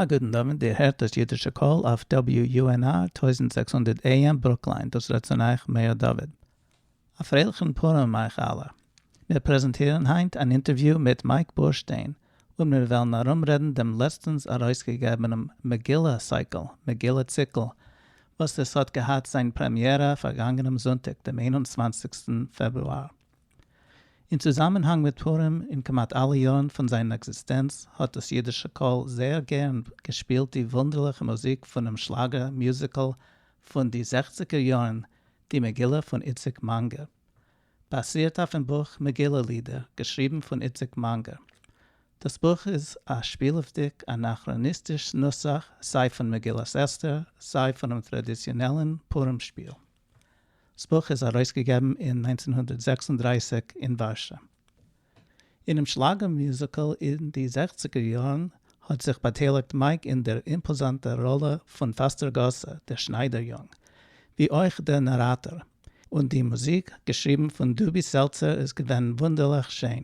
א גוטן דאווענט, איר הערט דאס אידישע קול אויף WUNR טויזנט זעקס הונדערט AM ברוקליין, דאס רעדט צון אייך מאיר דוד. א פרייליכן פורים אייך אלע. מיר פרעזענטירן היינט אן אינטערוויו מיט מייק בורשטיין, און מיר וועלן ארומרעדן דעם לעצטנס ארויסגעגעבענעם מגילה סייקל, מגילה ציקל, וואס עס האט געהאט זיין פרעמיערע פארגאנגענעם זונטאג דעם איין און צוואנציגסטן פעברואר. אין צוזאמענהאנג מיט פורים אין כמעט אלע יארן פון זיין עקזיסטענץ האט דאס אידישע קול זייער גערן געשפילט די וואונדערליכע מוזיק פונעם שלאגער מיוזיקל פון די זעכציגער יארן די מגילה פון איציק מאנגער באסירט אויפן בוך מגילה לידער געשריבן פון איציק מאנגער דאס בוך איז א שפילעוודיג אנאכראניסטיש נוסח סיי פון מגילת אסתר סיי פונעם טראדיציאנעלן פורים שפיל. דאס בוך איז ארויסגעגעבן אין נײַנצן הונדערט זעקס און דרײַסיק אין ווארשא. אינעם שלאגער מיוזיקל אין די זעכציגער יארן האט זיך באטייליגט מייק אין דער אימפאזאנטער ראלע פון פאסטער גאסע, דער שניידער יונג, ווי אויך דער נאראטאר, און די מוזיק, געשריבן פון דובי סעלצער, איז געווען וואונדערליך שיין.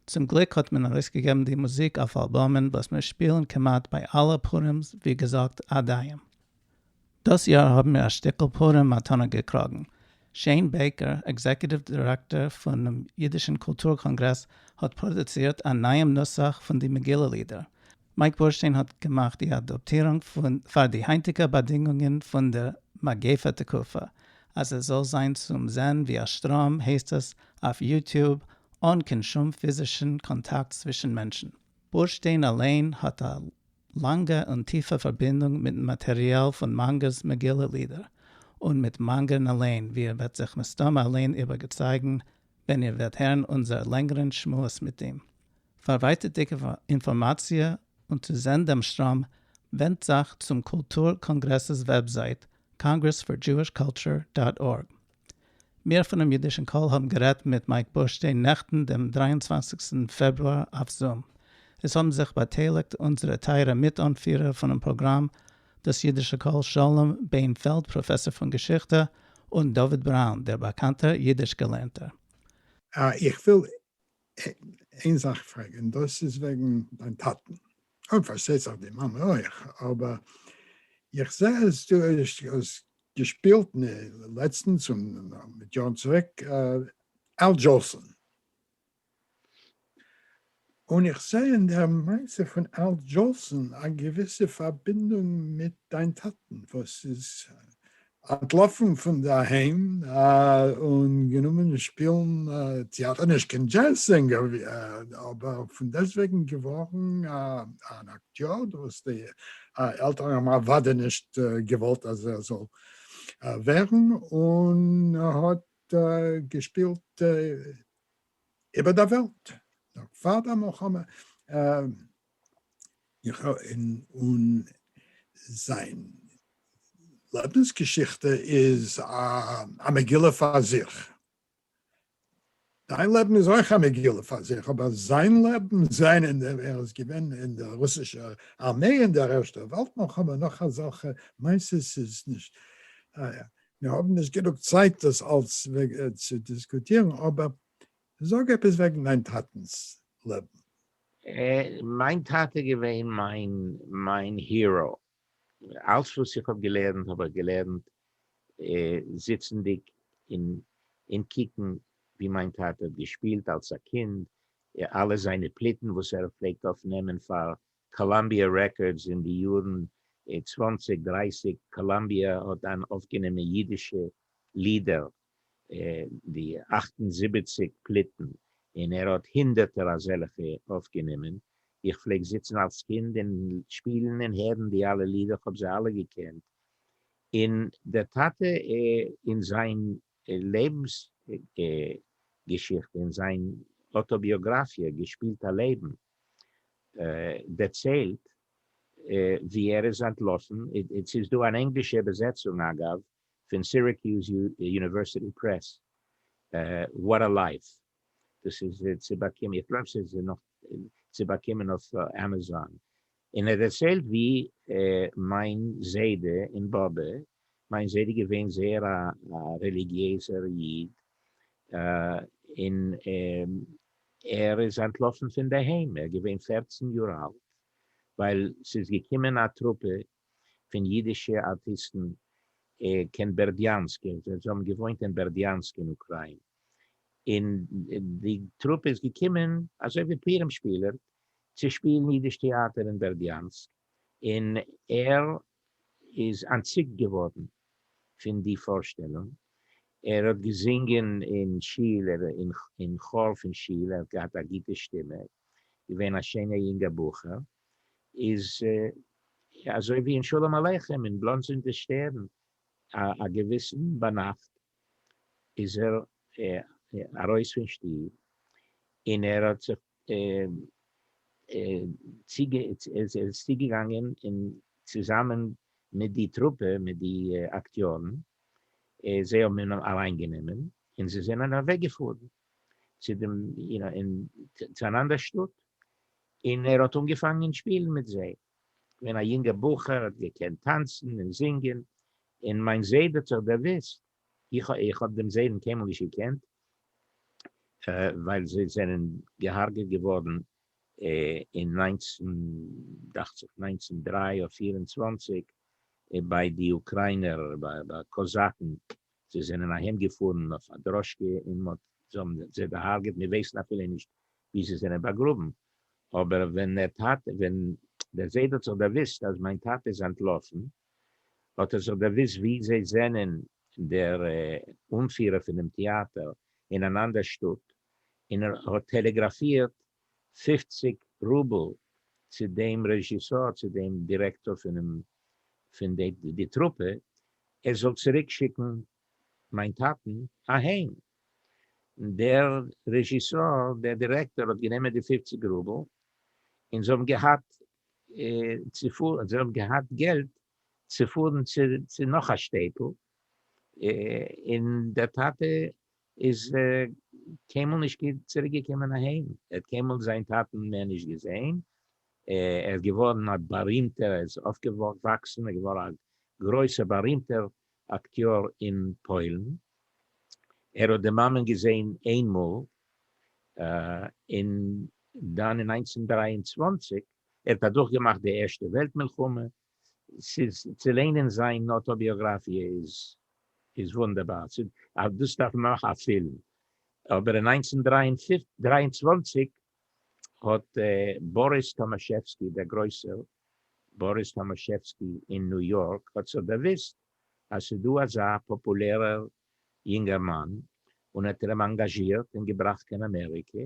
צום גליק האט מען ארויסגעגעבן די מוזיק אויף אלבאמען וואס מיר שפילן כמעט ביי אלע פורימס, ווי געזאגט, עד היום. דאס יאר האבן מיר א שטיקל פורים מתנה געקראגן. שעין בעיקער, עקזעקוטיוו דירעקטאר פונעם אידישן קולטור קאנגרעס, האט פראדוצירט א נייעם נוסח פון די מגילה לידער. מייק בורשטיין האט געמאכט די אדאפטירונג פאר די היינטיגע באדינגונגען פון דער מגיפה תקופה, אז עס זאל זיין צום זען ווי א שטראם, הייסט עס אויף יוטיוב, אן קיין שום פיזישן קאנטאקט צווישן מענטשן. בורשטיין אליין האט א לאנגע און טיפע פארבינדונג מיטן מאטעריאל פון מאנגער'ס מגילה לידער, און מיט מאנגער'ן אליין, ווי איר וועט זיך מסתמא אליין איבערגעצייגן ווען איר וועט הערן אונזער לענגערן שמועס מיט אים. פאר ווייטערדיגע אינפארמאציע און צו זען דעם שטראם, ווענדט זיך צום קולטור קאנגרעס'ס וועבזייט, Congress for Jewish Culture דאט ארג. מיר פונעם אידישן קול האבן גערעדט מיט מייק בורשטיין נעכטן דעם דרײַ און צוואַנציק פעברואר אויף זום. עס האבן זיך באטייליגט אונזערע טייערע מיט-אנפירער פונעם פראגראם דאס אידישע קול שלום בען פעלד פראפעסאר פון געשיכטע און דוד בראון דער באקאנטער אידיש געלערנטער. איך וויל איין זאך פרעג און דאס איז וועגן דיין טאטן, און פארשטייט זיך די מאמע אויך, אבער איך זעה אז דו האסט געשפילט לעצטנס און מיט יארן צוריק על דזשאלסאן, און איך זעה אין דער מעשה פון על דזשאלסאן א געוויסע פארבינדונג מיט דיין טאטן וואס איז אנטלאפן פון די אהיים און גענומען שפילן טעאטער, נישט קיין דזשעז זינגער אבער פון דעסטוועגן געווארן אן אקטיאר, וואס די עלטערן האבן אוודאי נישט געוואלט אז ער זאל ווערן, און האט געשפילט איבער דער וועלט נאך פאר דער מלחמה. איך און און זיין לעבנס געשיכטע איז א מגילה פאר זיך. דיין לעבן איז אויך א מגילה פאר זיך, אבער זיין לעבן, זיין און ער איז געווען אין די רוסישע ארמעי אין דער ערשטער וועלט מלחמה נאך אזעלכע מעשות איז נישט מיר האבן נישט גענוג צייט דאס אלס צו דיסקוטירן, אבער זאג עפעס וועגן דיין טאטנס לעבן. מיין טאטע איז געווען מיין הירא, אלס וואס איך האב געלערנט האב איך געלערנט זיצענדיג און קוקן ווי מיין טאטע האט געשפילט אלס א קינד, אלע זיינע פליטן וואס ער פלעגט אויף נעמען פאר קאלאמביע רעקארדס אין די יארן צוואנציג דרייסיג, קאלאמביע האט דאן אויפגענומען אידישע לידער די אַכט און זיבעציק פליטן און ער האט הונדערטער אזעלכע אויפגענומען, איך פלעג זיצן אלס קינד און שפילן און הערן די אלע לידער כ'האב זיי אלע געקענט, און דער טאטע אין זיין לעבנס געשיכטע אין זיין אוטאביאגראפיע געשפילט א לעבן דערציילט ווי ער איז אנטלאפן, ס'איז דא אן ענגלישע איבערזעצונג אגב, פון סירעקיוז יוניווערסיטי פרעס, וואט א לייף, דאס איז צו באקומען, איך גלייב ס'איז נאך צו באקומען אויף עמעזאן, און ער דערציילט ווי מיין זיידע און באבע, מיין זיידע געווען זייער א רעליגיעזער איד, און ער איז אנטלאפן פונדערהיים, ער איז געווען פֿערצן יאר אלט, ווייל ס'איז געקומען א טרופע פון אידישע ארטיסטן קיין בערדיאנסק און זיי האבן געוואוינט אין בערדיאנסק אין אוקריין און די טרופע איז געקומען אזוי ווי פורים שפילער צו שפילן אידיש טעאטער אין בערדיאנסק און ער איז אנטציקט געווארן פון די פארשטעלונג ער האט געזינגען אין שול אין כאר פון שול ער האט געהאט א גוטע שטימע געווען א שענער יונגער בחור. איז אזוי ווי אין שלום עליכם אין בלאנדס און די שטערן א געוויסן ביינאכט איז ער ארויס פון שטוב און ער האט זיך צוגעגאנגען און צוזאמען מיט די טרופע מיט די אקטיארן זיי האבן אים אליין גענומען און זיי זענען אוועקגעפארן צו דעם צו אן אנדער שטאט און ער האט אנגעפאנגען שפילן מיט זיי ווען א יונגער בחור, האט געקענט טאנצן און זינגען, און מיין זיידע האט זיך דערוואוסט, איך האב דעם זיידן קיינמאל נישט געקענט, ווייל זיי זענען געהארגעט געווארן אין נײַנצן, דאכט זיך נײַנצן דרײַ און פֿיר און צוואַנציק, ביי די אוקריינער, ביי קאזאקן, זיי זענען אהיים געפארן אויף א דראשקע און מען האט זיי האבן זיי דערהארגעט מיר ווייסן אפילו נישט ווי זיי זענען באגראבן אבער ווען דער טאטע ווען דער זיידע האט זיך דערוויסט אז מיין טאטע איז אנטלאפן האט ער זיך דערוויסט ווי זיי זענען דער אנפירער פונעם טיאטער אין אן אנדער שטאט און ער האט טעלעגראפירט פֿופֿציק רובל צו דעם רעזשיסאר צו דעם דירעקטאר פונעם פון די טרופע ער זאל צוריק שיקן מיין טאטן אהיים, דער רעזשיסאר דער דירעקטאר האט גענומען די פֿופֿציק רובל און זיי האבן געהאט צופארן זיי האבן געהאט געלט צופארן צו נאך א שטעטל און דער טאטע איז קיינמאל נישט צוריק געקומען אהיים, ער האט קיינמאל זיין טאטן מער נישט געזעהן, ער איז געווארן א בארימטער, ער איז אויפגעוואקסן און געווארן א גרויסער בארימטער אקטיאר אין פוילן, ער האט די מאמען געזעהן איין מאל, און דאן אין נײַנצן הונדערט דרײַ און צוואַנציק ער האט אדורכגעמאכט די ערשטע וועלט מלחמה, ס'איז צו ליינען זיין אוטאביאגראפיע איז איז וואונדערבאר, צו אויף דאס דארף מען נאך א פילם. אבער אין נײַנצן דרײַ און צוואַנציק האט באריס טאמאשעווסקי, דער גרויסער באריס טאמאשעווסקי אין ניו יארק, האט זיך דערוואוסט אז ס'איז דא אזא פאפולערער יונגערמאן און האט אים אנגאזשירט און געבראכט קיין אמעריקע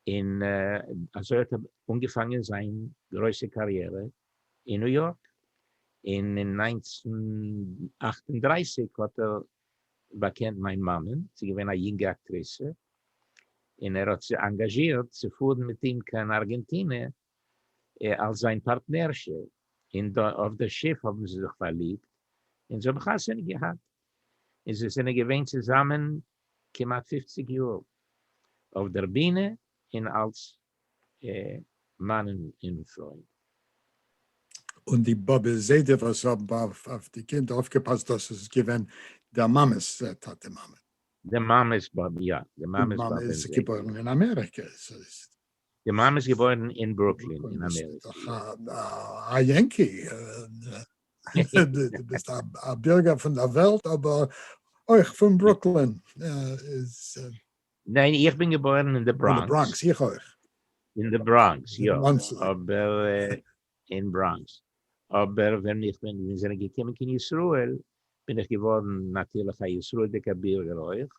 און אזוי האט ער אנגעפאנגען זיין גרויסע קאריערע אין ניו יארק און אין נײַנצן אַכט און דרײַסיק האט ער באקענט מיין מאמען זי איז געווען א יונגע אקטריסע און ער האט זי אנגאזשירט צו פארן מיט אים קיין ארגענטינע אלס זיין פארטנערשע, און אויף די שיף האבן זיי זיך פארליבט און זיי האבן חתונה געהאט, און זיי זענען געווען צוזאמען כמעט פופציג יאר אויף דער בינע און אלס מאן און פרוי. און די באבע זיידע וואס האבן אויף די קינד אויפגעפאסט דאס איז געווען דער מאמע'ס טאטע מאמע. די מאמע'ס באבע, יא, די מאמע'ס באבע און זיידע. די מאמע איז געבוירן אין אמעריקע. די מאמע איז געבוירן אין ברוקלין אין אמעריקע. א יענקי, דו ביסט א בירגער פון דער וועלט אבער אויך פון ברוקלין. ניין איך בין געבוירן אין די בראנקס. אין די בראנקס איך אויך. אין די בראנקס יא אבער אין בראנקס, אבער ווען איך בין מיר זענען געקומען קיין ישראל בין איך געווארן נאטירליך א ישראלדיגע בירגער אויך,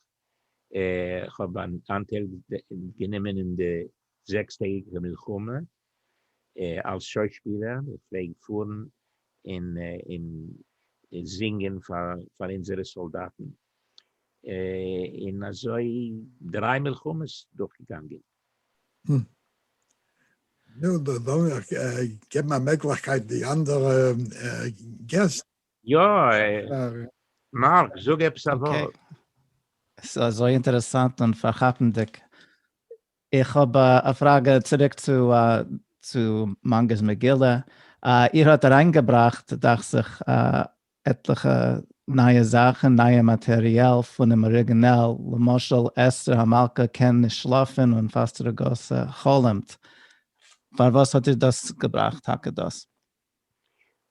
איך האב אנטייל גענומען אין די זעקס טעגיגע מלחמה אלס שוישפילער, איך פלעג פארן און זינגען פאר אונזערע סאלדאטן, און אזוי דריי מלחמות דורכגעגאנגען. נו, דאס זאל מען דאך געבן א מעגליכקייט די אנדערע געסט. יא, מארק, זאג עפעס א ווארט. ס'איז אזוי אינטערעסאנט און פארכאפנדיג. איך האב א פראגע צוריק צו מונגע'ס מגילה. איר האט אריינגעבראכט דאכט זיך עטליכע נייע זאכן, נייע מאטריאל פונעם אריגינעל, למשל אסתר המלכה קען נישט שלאפן און פאסט רגעס חלומ'ט, פארוואס האט איר דאס געבראכט טאקע דאס?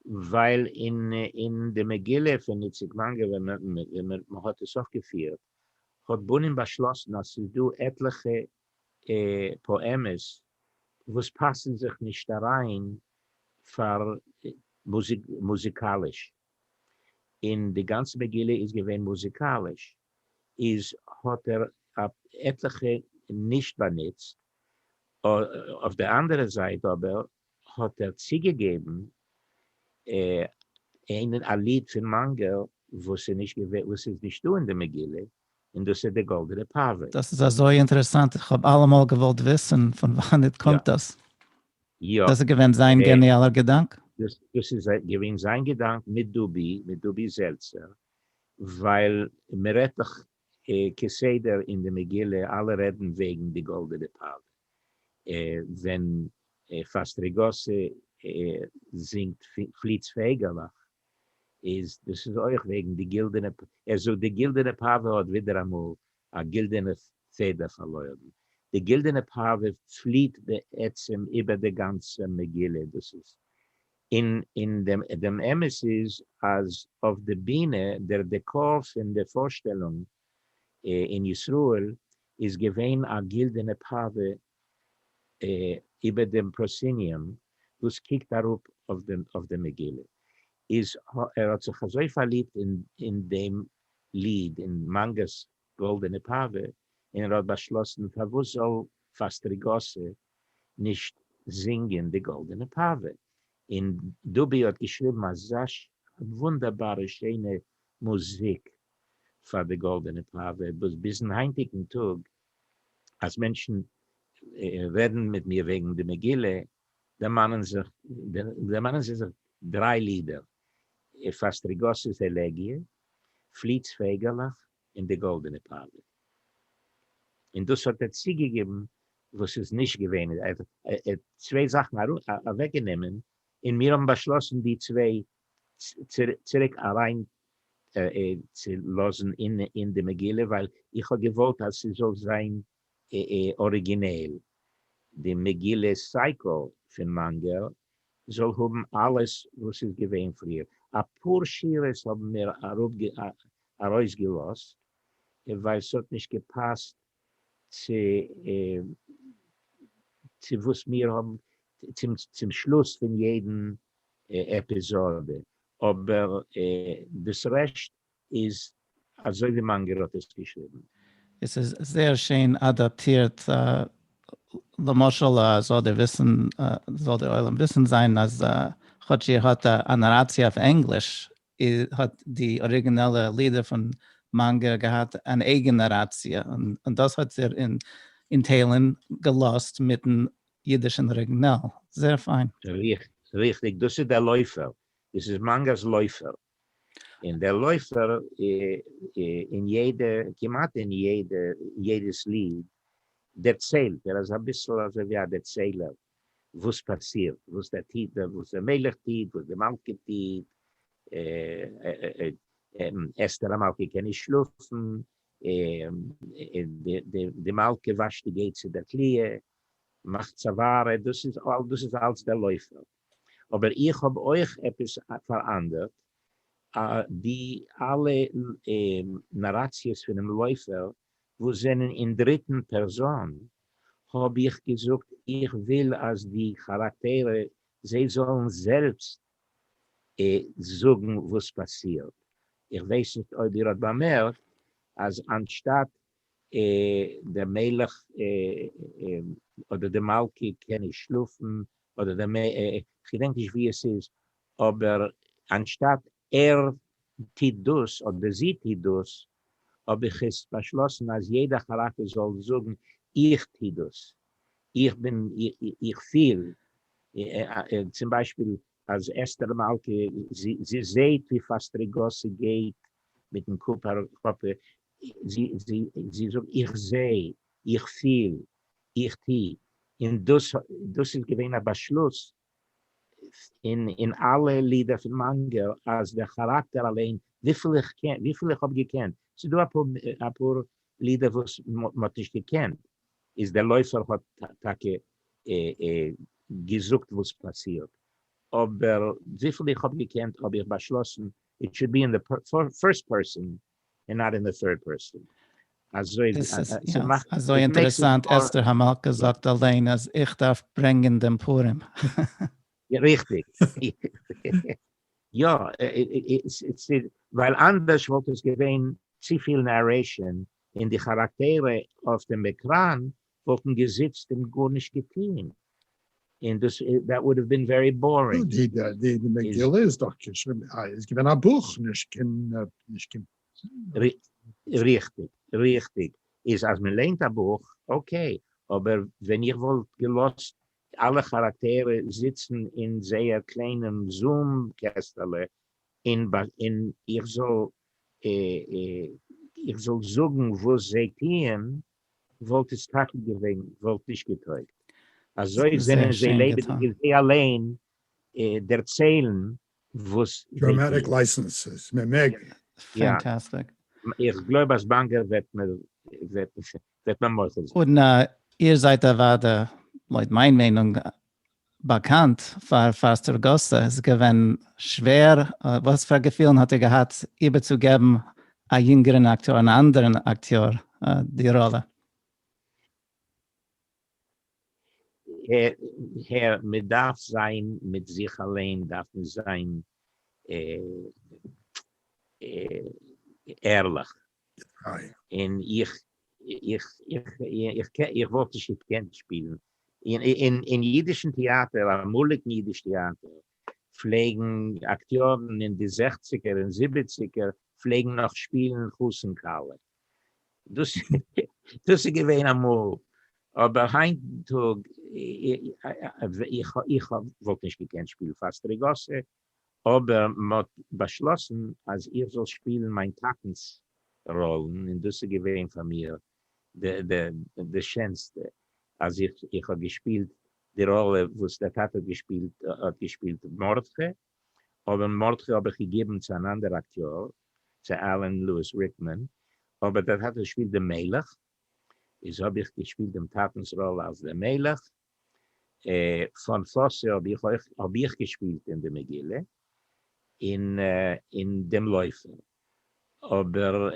ווייל אין די מגילה פון איציק מאנגער ווען מען האט עס אויפגעפירט האט בנין באשלאסן אז ס'איז דא עטליכע פאעמעס וואס פאסן זיך נישט אריין פאר מוזיקאליש, און די גאנצע מגילה איז געווען מוזיקאליש, איז האט ער עטליכע נישט באנוצט, אויף די אנדערע זייט אבער האט ער צוגעגעבן אין א ליד פון מאנגעל וואס איז נישטא אין די מגילה, און דאס איז די גאלדענע פאווער. דאס איז אזוי אינטערעסאנט, איך האב אלעמאל געוואלט וויסן פון וואנעט קומט דאס. יא. דאס איז געווען זיין געניאלער געדאנק? דאס איז געווען זיין געדאנק מיט דובי, מיט דובי זעלצער, ווייל מען רעדט דאך כסדר אין די מגילה, אלע רעדן וועגן די גאלדענע פאווער, ווען פאסטריגאסי זינגט פליץ פייגעלעך, איז דאס איז אויך וועגן די גילדענע פ. ער זאגט די גילדענע פאווע האט ווידעראמאל א גילדענע פעדער פארלוירן. די גילדענע פאווע פליעט בעצם איבער די גאנצע מגילה. דאס איז אין אין דעם דעם אמת איז אז אויף די בינע דער דעקאר פון די פארשטעלונג אין ישראל איז געווען א גילדענע פאווע איבער דעם פראסיניום וואס קוקט אראפ אויף די מגילה, איז ער האט זיך אזוי פארליבט אין דעם ליד אין מאנגא'ס גאלדענע פאווע, און ער האט באשלאסן פארוואס זאל פאסטריגאסע נישט זינגען די גאלדענע פאווע, און דובי האט געשריבן אזש א וואונדערבארע שיינע מוזיק פאר די גאלדענע פאווער וואס ביזן היינטיגן טאג אז מענטשן רעדן מיט מיר וועגן די מגילה דערמאנען זיי זיך דריי לידער, פאסטריגאס'ס עלעגיע, פליט'ס פייגעלעך און די גאלדענע פאווער. און דאס האט ער צוגעגעבן וואס איז נישט געווען, ער האט צוויי זאכן אוועקגענומען און מיר האבן באשלאסן די צוויי צוריק אריין צו לאזן אין די מגילה ווייל איך האב געוואלט אז ס'זאל זיין אריגינעל, די מגילה סייקל פון מאנגעל זאל האבן אלעס וואס איז געווען פריער, אפאר שורות האבן מיר ארויסגעלאזט ווייל ס'האט נישט געפאסט צו צו וואס מיר האבן צום צום שלוס פון יעדן עפיזאדע, אבער דאס רעשט איז אזוי ווי מאנגער האט עס געשריבן. עס איז זייער שיין אדאפטירט, למשל זאל דער וויסן זאל דער עולם וויסן זיין אז כאטש איר האט א נאראציע אויף ענגליש איר האט די אריגינעלע לידער פון מאנגער געהאט אן אייגען נאראציע, און דאס האט איר אין טיילן געלאזט מיטן אידישן אריגינעל. זעהר פיין. ריכטיג, דאס איז דער לויפער, דאס איז מאנגער'ס לויפער, און דער לויפער אין יעדע, כמעט אין יעדע, יעדעס ליד דערציילט ער, ער איז אביסל אזוי ווי א דערציילער. וואס פאסירט, וואס דער טוט, וואס דער מלך טוט, וואס די מלכה טוט, אסתר המלכה קען נישט שלאפן, די מלכה וואשט די געיט צו דער תליה, מאכט צווארע, דאס איז אלץ דער לויפער. אבער איך האב אויך עפעס פאראנדערט, די אלע נאראציעס פונעם לויפער וואס זענען אין דריטן פערזאן, האב איך געזאגט איך וויל אז די כאראקטערע זיי זאלן זעלבסט זאגן וואס פאסירט, איך ווייס נישט אויב איר האט באמערקט אז אנשטאט דער מלך אדער די מלכה קען נישט שלאפן אדער די, כ'געדענק נישט ווי עס איז, אבער אנשטאט ער טוט דאס אדער זי טוט דאס, האב איך עס באשלאסן אז יעדע חרטה זאל זאגן איך טו דאס, איך בין, איך פיל, צום ביישפיל אז אסתר המלכה זי זעהט ווי פאסט רגסי גייט מיטן קאפ אראפ, זי זאגט איך זעה, איך פיל, איך טו, און דאס איז געווען א באשלוס אין אלע לידער פון מאנגא אז דער כאראקטער אליין וויפיל איך קען וויפיל איך האב געקענט ס'איז דא אפאר לידער וואס מ'האט נישט געקענט איז דער לויפער האט טאקע געזאגט וואס פאסירט אבער וויפיל איך האב געקענט האב איך באשלאסן איט שוד בי אין די פירסט פערסאן און נאט אין די טירד פערסאן. אזוי די סארט זאכן. יא, אזוי אינטערעסאנט, אסתר המלכה זאגט אליין אז איך דארף ברענגען דעם פורים. ריכטיג. יא, ווייל אנדערש וואלט עס געווען צופיל נערעישאן, און די כאראקטערע אויף דעם עקראן וואלטן געזיצט און גארנישט געטוהן, און דאס that would have been very boring. די מגילה איז דאך געשריבן איז געווען א בוך נישט קיין נישט קיין. ריכטיג ריכטיג איז אז מען ליינט א בוך אקעי, אבער ווען איך וואלט געלאזט אלע כאראקטערע זיצן אין זייער קליינעם זום קעסטעלע און און איך זאל איך זאל זאגן וואס זיי טוען, וואלט עס טאקע געווען וואלט נישט געטויגט, אזוי זענען זיי לעבעדיג און זיי אליין דערציילן וואס זיי טוען. איך גלויב אז באנגער וועט מיר מוחל זיין. און איר זייט אוודאי לויט מיין מיינונג באקאנט פאר פארסטער גוססע איז געווען שווער, וואס פאר געפילן האט ער געהאט איבערצוגעבן א יונגערן אקטיאר, אן אנדערן אקטיאר די ראלע? ה ה מען דארף זיין מיט זיך אליין דארף מען זיין ערליך. פרייע. און איך איך איך איך איך וואלט נישט געקענט שפילן אין אין אידישן טעאטער, אמאליגן אידיש טעאטער פלעגן אקטיארן אין די זעכציגער און זיבעציגער פלעגן נאך שפילן חתן כלה, דאס דאס איז געווען אמאל, אבער היינט טאג איך איך וואלט נישט געקענט שפילן פאסטריגאסע, אבער מ'האט באשלאסן אז איך זאל שפילן מיין טאטנ'ס ראלן און דאס איז געווען פאר מיר די שענסטע אז איך האב געשפילט די ראלע וואס דער טאטע האט געשפילט מרדכי, אבער מרדכי האב איך געגעבן צו אן אנדער אקטיאר, צו עלען לואיס ריקמאן, אבער דער טאטע שפילט די מלך, איז האב איך געשפילט דעם טאטנ'ס ראלע אלס דער מלך, פאן פאסע האב איך אויך האב איך געשפילט אין די מגילה, און אין דעם לויפער, אבער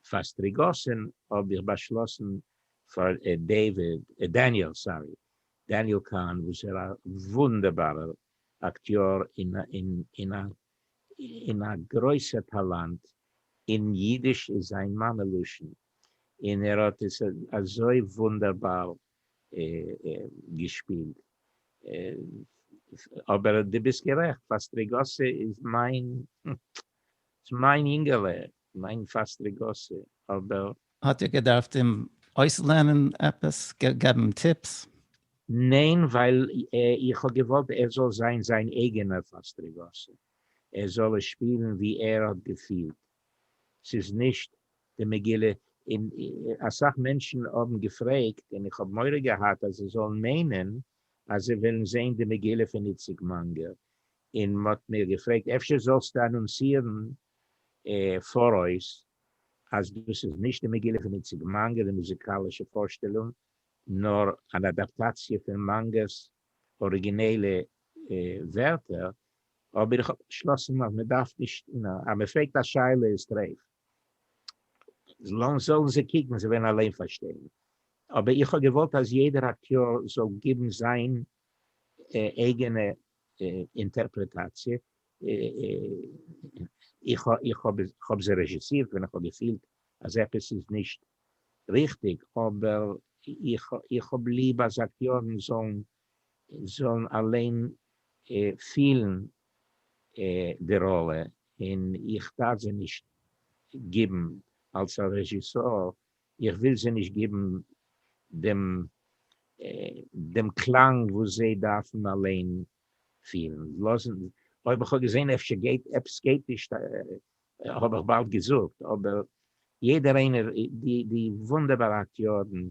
פאר סטריגאסין האב איך באשלאסן פאר דעיוויד, דעניעל סארי, דעניעל קאהן וואס איז א וואונדערבארער אקטיאר און א און א גרויסע טאלאנט אין אידיש איז זיין מאמע לשון, און ער האט עס אזוי וואונדערבאר געשפילט. אבער דו ביסט גערעכט, פאסטריגאסי איז מיין יונגעלע, מיין פאסט לעגאסי אבער. האט איר געדארפט אים אויסלערנען עפעס? געבן טיפס? ניין ווייל איך האב געוואלט ער זאל זיין זיין אייגענער פאסט לעגאסי ער זאל עס שפירן ווי ער האט געפילט ס'איז נישט די מגילה אין אסאך מענטשן האבן געפרעגט און איך האב מורא געהאט אז זיי זאלן מיינען אז זיי ווילן זעהן די מגילה פון איציק מאנגער און מ'האט מיר געפרעגט אפשר זאלסטו אנאנסירן פאראויס אז דאס איז נישט די מגילה פון איציק מאנגא די מוזיקאלישע פארשטעלונג, נאר אן אדאפטאציע פון מאנגא'ס אריגינעלע ווערטער, אבער איך האב באשלאסן אז מען דארף נישט, אז מען פרעגט א שאלה איז טרעף, זאלן זיי קוקן, זיי וועלן אליין פארשטיין, אבער איך האב געוואלט אז יעדער אקטיאר זאל גיבן זיין אייגענע אינטערפרעטאציע, איך איך האב האב זיי רעזשיסירט ווען איך האב געפילט אז עפעס איז נישט ריכטיג, אבער איך איך האב ליב אז אקטיארן זאלן זאלן אליין פילן די ראלע, און איך דארף זיי נישט גיבן אלס א רעזשיסאר, איך וויל זיי נישט גיבן דעם דעם קלאנג וואס זיי דארפן אליין פין לאזן אויב איך האב געזען אפשר גייט עפעס גייט נישט האב איך באלד געזאגט אבער יעדער איינער די די וואונדערבארע אקטיארן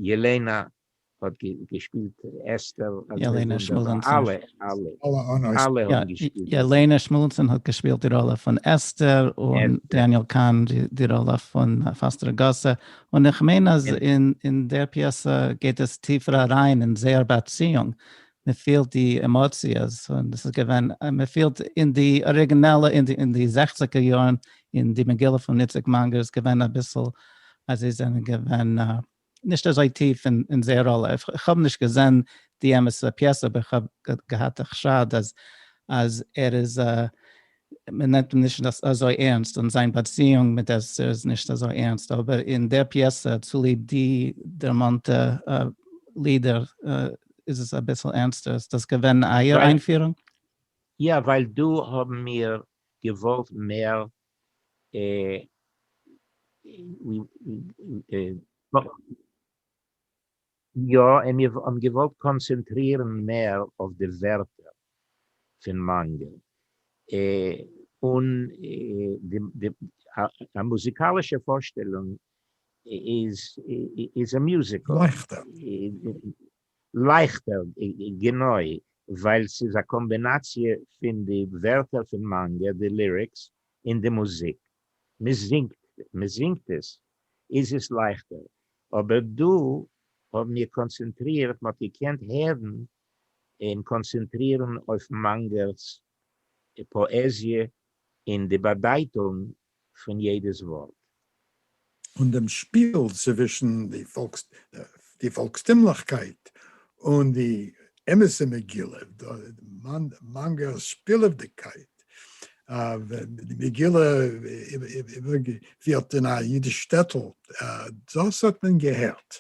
ילענא האט געשפילט אסתר ילענא שמואלענסאן ילענא שמואלענסאן האט געשפילט די ראלע פון אסתר און דעניעל קאהן די ראלע פון פאסטער אגאסע און איך מיין אז אין דער פיעסע גייט עס טיפער אריין אין זייער באציאונג, מען פילט די עמאציעס, און דאס איז געווען, מען פילט אין די אריגינעלע, אין די זעכציגער יארן, אין די מגילה פון איציק מאנגער איז געווען אביסל אז זיי זענען געווען נישט אזוי טיף אין זייער ראלע, איך האב נישט געזען די אמת'ע פיעסע אבער איך האב געהאט א חשד אז ער איז מען נעמט אים נישט אזוי ערנסט און זיין באציאונג מיט אסתר איז נישט אזוי ערנסט, אבער אין דער פיעסע צוליב די דערמאנטע לידער איז עס אביסל ערנסטער, איז דאס געווען אייער איינפירונג? יא, ווייל דא האבן מיר געוואלט מער יא, און מיר האבן געוואלט קאנצענטרירן מער אויף די ווערטער פון מאנגעל, און א מוזיקאלישע פארשטעלונג איז א מיוזיקל. לייכטער. לייכטער, גענוי, ווייל ס'איז א קאמבינאציע פון די ווערטער פון מאנגעל, די ליריקס, און די מוזיק. מען זינגט עס איז עס לייכטער, אבער דא האבן מיר קאנצענטרירט, מען האט געקענט הערן און קאנצענטרירן אויף מאנגער'ס פאעזיע און די באדייטונג פון יעדעס ווארט, און דעם שפיל צווישן די פאלקסטימליכקייט און די אמת'ע מגילה, מאנגער'ס שפילעוודיגקייט, די מגילה איבערגעפירט אין א אידיש שטעטל, דאס האט מען געהערט.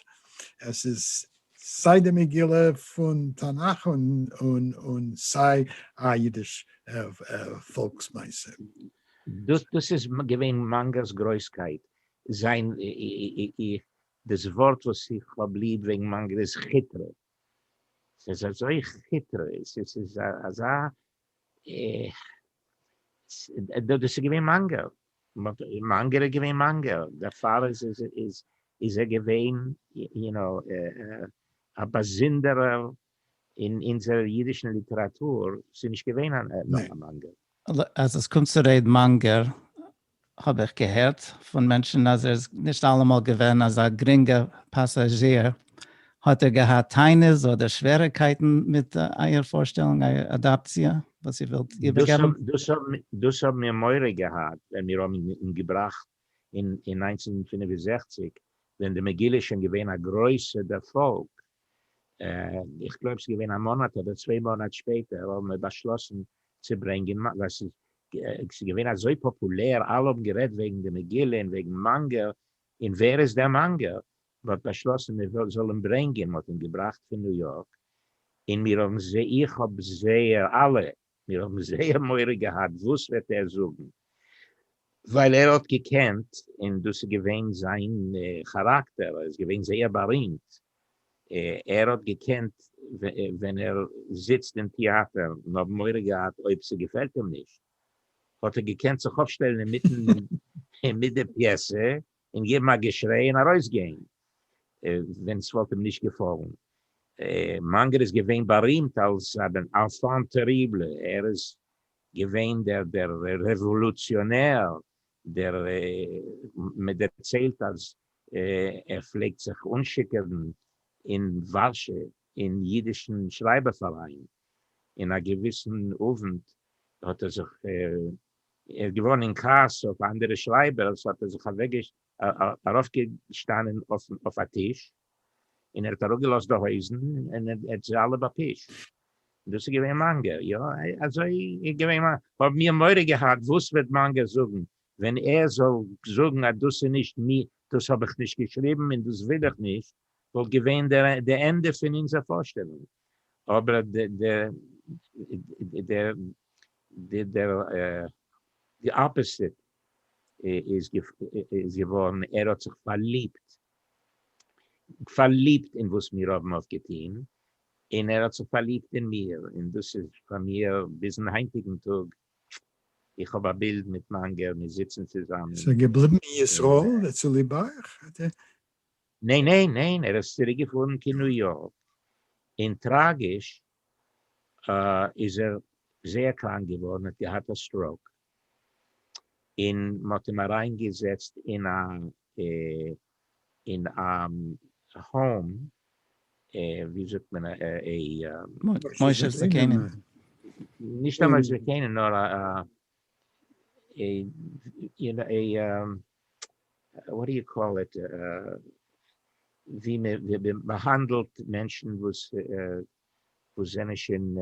עס איז סיי די מגילה פון תנך און סיי א אידיש פאלקס מעשה. דאס איז געווען מאנגער'ס גרויסקייט, זיין דאס ווארט וואס איך האב ליב וועגן מאנגער איז כיטרע, ס'איז אזוי כיטרע, ס'איז אזא, דאס איז געווען מאנגער, מאנגער איז געווען מאנגער, דערפאר איז ער געווען יו נאו א באזונדערער אין אונזער אידישן ליטעראטור איז נישט געווען א נאך א מאנגער. אז עס קומט צו ר' מאנגער האב איך געהערט פון מענטשן אז ער איז נישט אלעמאל געווען אזא גרינגע פאסאזשיר, האט ער געהאט טענות אדער שוועריקייטן מיט אייער פארשטעלונג, אייער אדאפציע וואס איר ווילט איבערגעבן? דאס האבן מיר מורא געהאט ווען מיר האבן אים געבראכט אין אין נײַנצן הונדערט פֿינף און זעכציק ווען די מגילה איז שוין געווען א גרויסע דערפאלג, איך גלויב ס'איז געווען א מאנאט אדער צוויי מאנאט שפעטער האבן מיר באשלאסן צו ברענגען ווייל ס'איז ס'איז געווען אזוי פאפולער אלע האבן גערעדט וועגן די מגילה און וועגן מאנגער און ווער איז דער מאנגער מ'האט באשלאסן מיר זאל אים ברענגען מ'האט אים געבראכט פון ניו יארק און מיר האבן זיי איך האב זייער אלע מיר האבן זייער מורא געהאט וואס וועט ער זאגן, ווייל ער האט געקענט און דאס איז געווען זיין כאראקטער, ער איז געווען זייער בארימט, ער האט געקענט ווען ער זיצט אין טיאטער, און האבן מורא געהאט אויב ס'געפעלט אים נישט, האט ער געקענט זיך אויפשטעלן אינמיטן מיט די פיעסע, און געבן א געשריי און ארויסגיין ווען ס'וואלט אים נישט געפאלן. מאנגער איז געווען בארימט אלס אן enfant terrible, ער איז געווען דער רעוואלוציאנער, דער מ'דערציילט אז ער פלעגט זיך אנשיקעווען אין ווארשע אין אידישן שרייבער פאראיין, און א געוויסן אוונט האט ער זיך ער איז געווארן אין כעס אויף אנדערע שרייבערס האט ער זיך ארויפגעשטאנען אויף א טיש און ער האט אראפגעלאזט די הויזן און ער האט זיי אלע באפישט. דאס איז געווען מאנגער, יא אזוי איז געווען מאנגער. כ'האב מיר מורא געהאט וואס וועט מאנגער זאגן ווען ער זאל זאגן אז דאס איז נישט מי דאס האב איך נישט געשריבן און דאס וויל איך נישט. וואלט געווען די ענדע פון אונזער פארשטעלונג, אבער די אפעסיט איז געווארן, ער האט זיך פארליבט פארליבט אין וואס מיר האבן אויף געטון, און ער האט זיך פארליבט אין מיר, און דאס איז פאר מיר ביזן היינטיגן טאג, איך האב א בילד מיט מאנגער, מיר זיצן צוזאמען. איז ער געבליבן אין ישראל צוליב אייך? ניין ניין ניין ער איז צוריק געפארן קין ניו יארק אין טראגיש איז ער זייער קראנק געווארן האט געהאט א סטראוק אין מ'האט אים אריין געזעצט אין א אין א האום ווי זאגט מען א מושב זקנים נישט א מושב זקנים נאר א א וואט די יו קאל איט, ווי מ'האנדלט מענטשן וואס זענען שוין.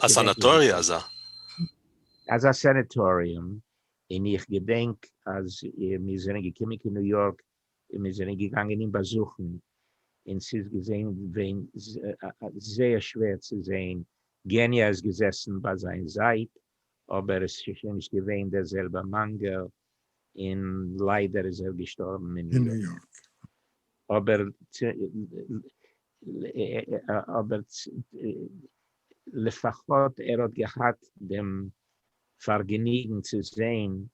א סאנאטאריע אזא. אזא סענעטאריום, און איך געדענק אז מיר זענען געקומען קיין ניו יארק און מיר זענען געגאנגען אים באזוכן, און ס'איז געווען זייער שווער צו זען, געניא איז געזעסן ביי זיין זייט, אבער עס איז שוין נישט געווען דער זעלבער מאנגעל, און ליידער איז ער געשטארבן אין ניו יארק. אבער לפחות ער האט געהאט דעם פארגעניגן צו זען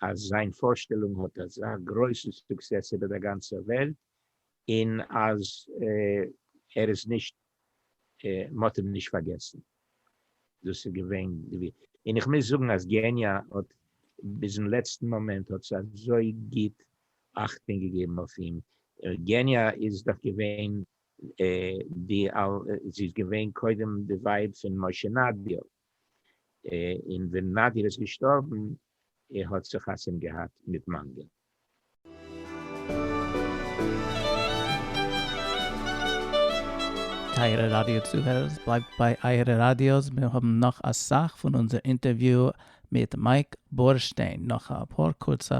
אז זיין פארשטעלונג האט אזא גרויסן סוקסעס איבער דער גאנצער וועלט, און אז ער איז נישט מען האט אים נישט פארגעסן, דאס איז געווען די, און איך מוז זאגן אז געניאַ האט ביזן לעצטן מאמענט האט זי אזוי גוט אכטונג געגעבן אויף אים, געניאַ איז דאך געווען די, זי איז געווען קודם די ווייב פון משה נאַדיאַוו, און ווען נאדיר איז געשטארבן ער האט זיך חתונה געהאט מיט מנגן. טייערע ראדיא צוהערערס, בלייבט ביי אייערע ראדיאס, מיר האבן נאך אסאך פון אונזער אינטערוויו מיט מייק בורשטיין נאך אפאר קורצע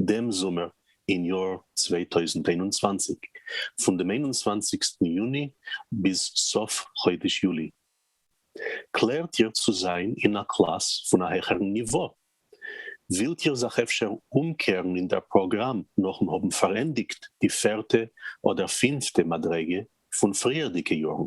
דעם זומער אין יאר צוויי טויזנט איין און צוואַנציק, פון דעם איין און צוואַנציגסטן יוני ביז סוף חודש יולי. קלערט איר צו זיין אין א קלאס פון א העכערן ניווא? ווילט איר זיך אפשר אומקערן אין דער פראגראם נאכן האבן פארענדיגט די פערטע אדער פינפטע מדריגה פון פריערדיגע יארן?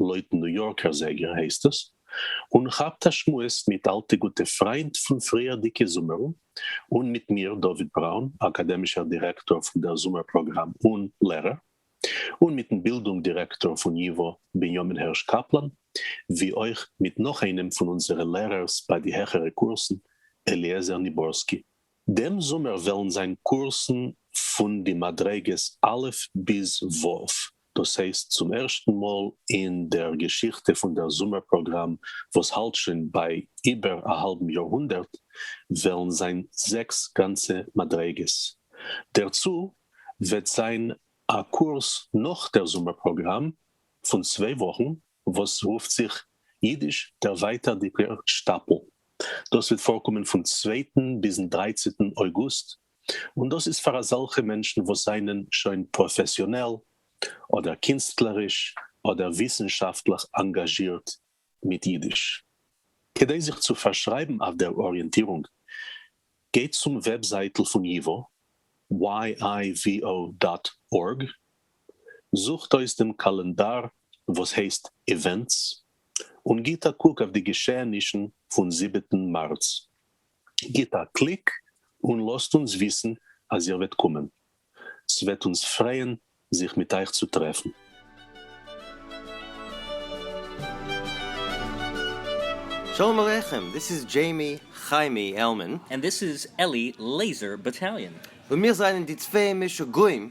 לויטן ניו יארקער זייגער הייסט עס, און כאפט א שמועס מיט אלטע גוטע פריינט פון פריערדיגע זומערן, און מיט מיר, דוד בראון, אקאדעמישער דירעקטאר פון דער זומער פראגראם און לערער, און מיטן בילדונג דירעקטאר פון ייווא, בנימין הערש קאפלאן, ווי אויך מיט נאך איינעם פון אונזערע לערערס ביי די העכערע קורסן, אליעזר ניבורסקי. דעם זומער וועלן זיין קורסן פון די מדריגות א' ביז ו', דאס הייסט צום ערשטן מאל אין דער געשיכטע פון דער זומער פראגראם וואס האלט שוין ביי איבער א האלבן יאר-הונדערט, וועלן זיין זעקס גאנצע מדריגות. דערצו וועט זיין א קורס נאך דער זומער פראגראם פון צוויי וואכן וואס רופט זיך אידיש דערווייטערדיגער שטאפל, דאס וועט פארקומען פון צווייטן ביזן דרייצעטן אויגוסט און דאס איז פאר אזעלכע מענטשן וואס זענען שוין פראפעסיאנעל אדער קינסטלעריש אדער וויסנשאפטליך אנגאזשירט מיט אידיש. כדי זיך צו פארשרייבן אויף דער אריענטירונג, גייט צום וועבזייטל פון ייווא, yivo דאט org, זוכט אויס דעם קאלענדאר וואס הייסט איווענטס, און גיט א קוק אויף די געשעענישן פון זיבעטן מארץ. גיט א קליק און לאזט אונז וויסן אז איר וועט קומען. ס'וועט אונז פרייען זיך מיט אייך צו טרעפן. שלום עליכם, דיס איז דזשעימי חיימי עלמען. און דיס איז עלי לעיזער באטאליאן. און מיר זענען די צוויי משוגעים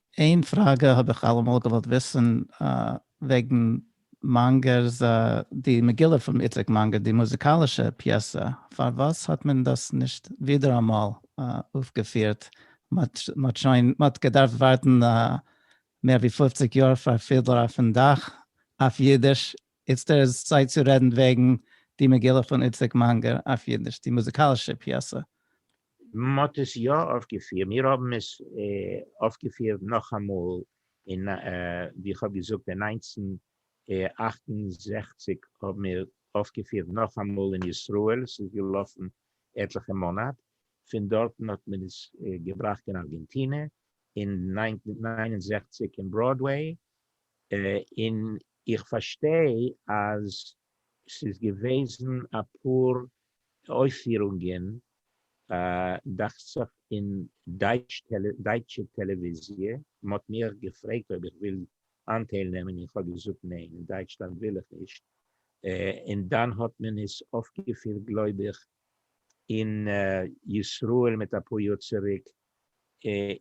איין פראגע האב איך אלעמאל געוואלט וויסן וועגן מאנגער'ס די מגילה פון איציק מאנגער די מוזיקאלישע פיעסע פארוואס האט מען דאס נישט ווידעראמאל אויפגעפירט מען האט שוין מען האט געדארפט ווארטן מער ווי פֿופֿציק יאר פאר פידלער אויפן דאך אויף אידיש איצטער איז צייט צו רעדן וועגן די מגילה פון איציק מאנגער אויף אידיש די מוזיקאלישע פיעסע מען האט עס יא אויפגעפירט, מיר האבן עס אויפגעפירט נאכאמאל אין ווי איך האב געזאגט אין נײַנצן אַכט און זעכציק האבן מיר אויפגעפירט נאכאמאל אין ישראל, ס'איז געלאפן עטליכע מאנאט, פון דארטן האט מען עס געבראכט אין ארגענטינע, אין נײַנצן נײַן און זעכציק אין בראדוועי, און איך פארשטיי אז ס'איז געוועזן אפאר אויפירונגען דאכט זיך אין דייטשע טעלעוויזיע, מ'האט מיך געפרעגט אויב איך וויל אנטייל נעמען איך האב געזאגט ניין אין דייטשלאנד וויל איך נישט, און דאן האט מען עס אויפגעפירט גלויב איך אין ישראל מיט אפאר יאר צוריק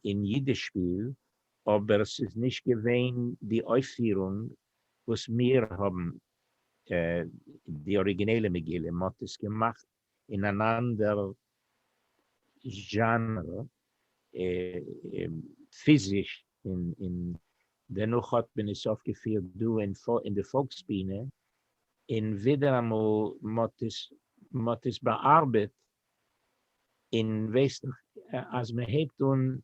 אין אידישפיל, אבער ס'איז נישט געווען די אויפירונג וואס מיר האבן די אריגינעלע מגילה, מען האט עס געמאכט אין אן אנדער זשאנער, פיזיש, און דערנאך האט מען עס אויפגעפירט דא אין די פאלקס בינה, און ווידעראמאל מען האט עס באארבעט, און וועסט אז מען הייבט אן,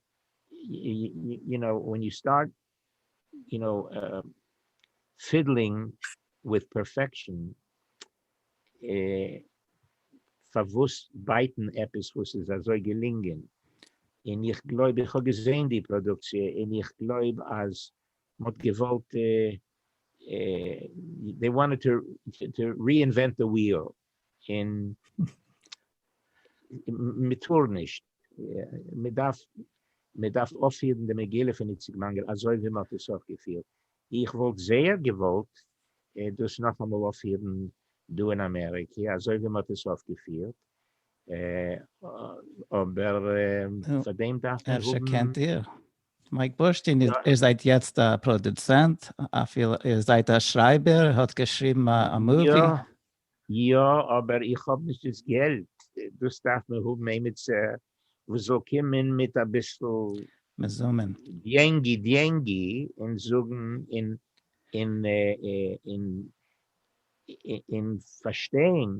יו נאו, ווען יו סטארט יו נאו, פידלינג וויט פערפעקשאן, פארוואס בייטן עפעס וואס איז אזוי געלינגען? און איך גלויב, איך האב געזעהן די פראדוקציע, און איך גלויב אז מ'האט געוואלט, דעי וואנטעד טו ריאינווענט די וויעל, און מען טאר נישט, מען דארף מען דארף אויפפירן די מגילה פון איציק מאנגער אזוי ווי מען האט עס אויפגעפירט, איך וואלט זייער געוואלט דאס נאכאמאל אויפפירן דא אין אמעריקע אזוי ווי מען האט עס אויפגעפירט, אבער פאר דעם דארף מען האבן. אפשר קענט איר? מייק בורשטיין, איר זייט יעצט א פראדוצענט, אפילו איר זייט א שרייבער, איר האט געשריבן א מאווי? יא, יא אבער איך האב נישט דאס געלט, דאס דארף מען האבן עימיצער וואס זאל קומען מיט אביסל. מזומן. דיענגי דיענגי און זאגן און און און און פארשטיין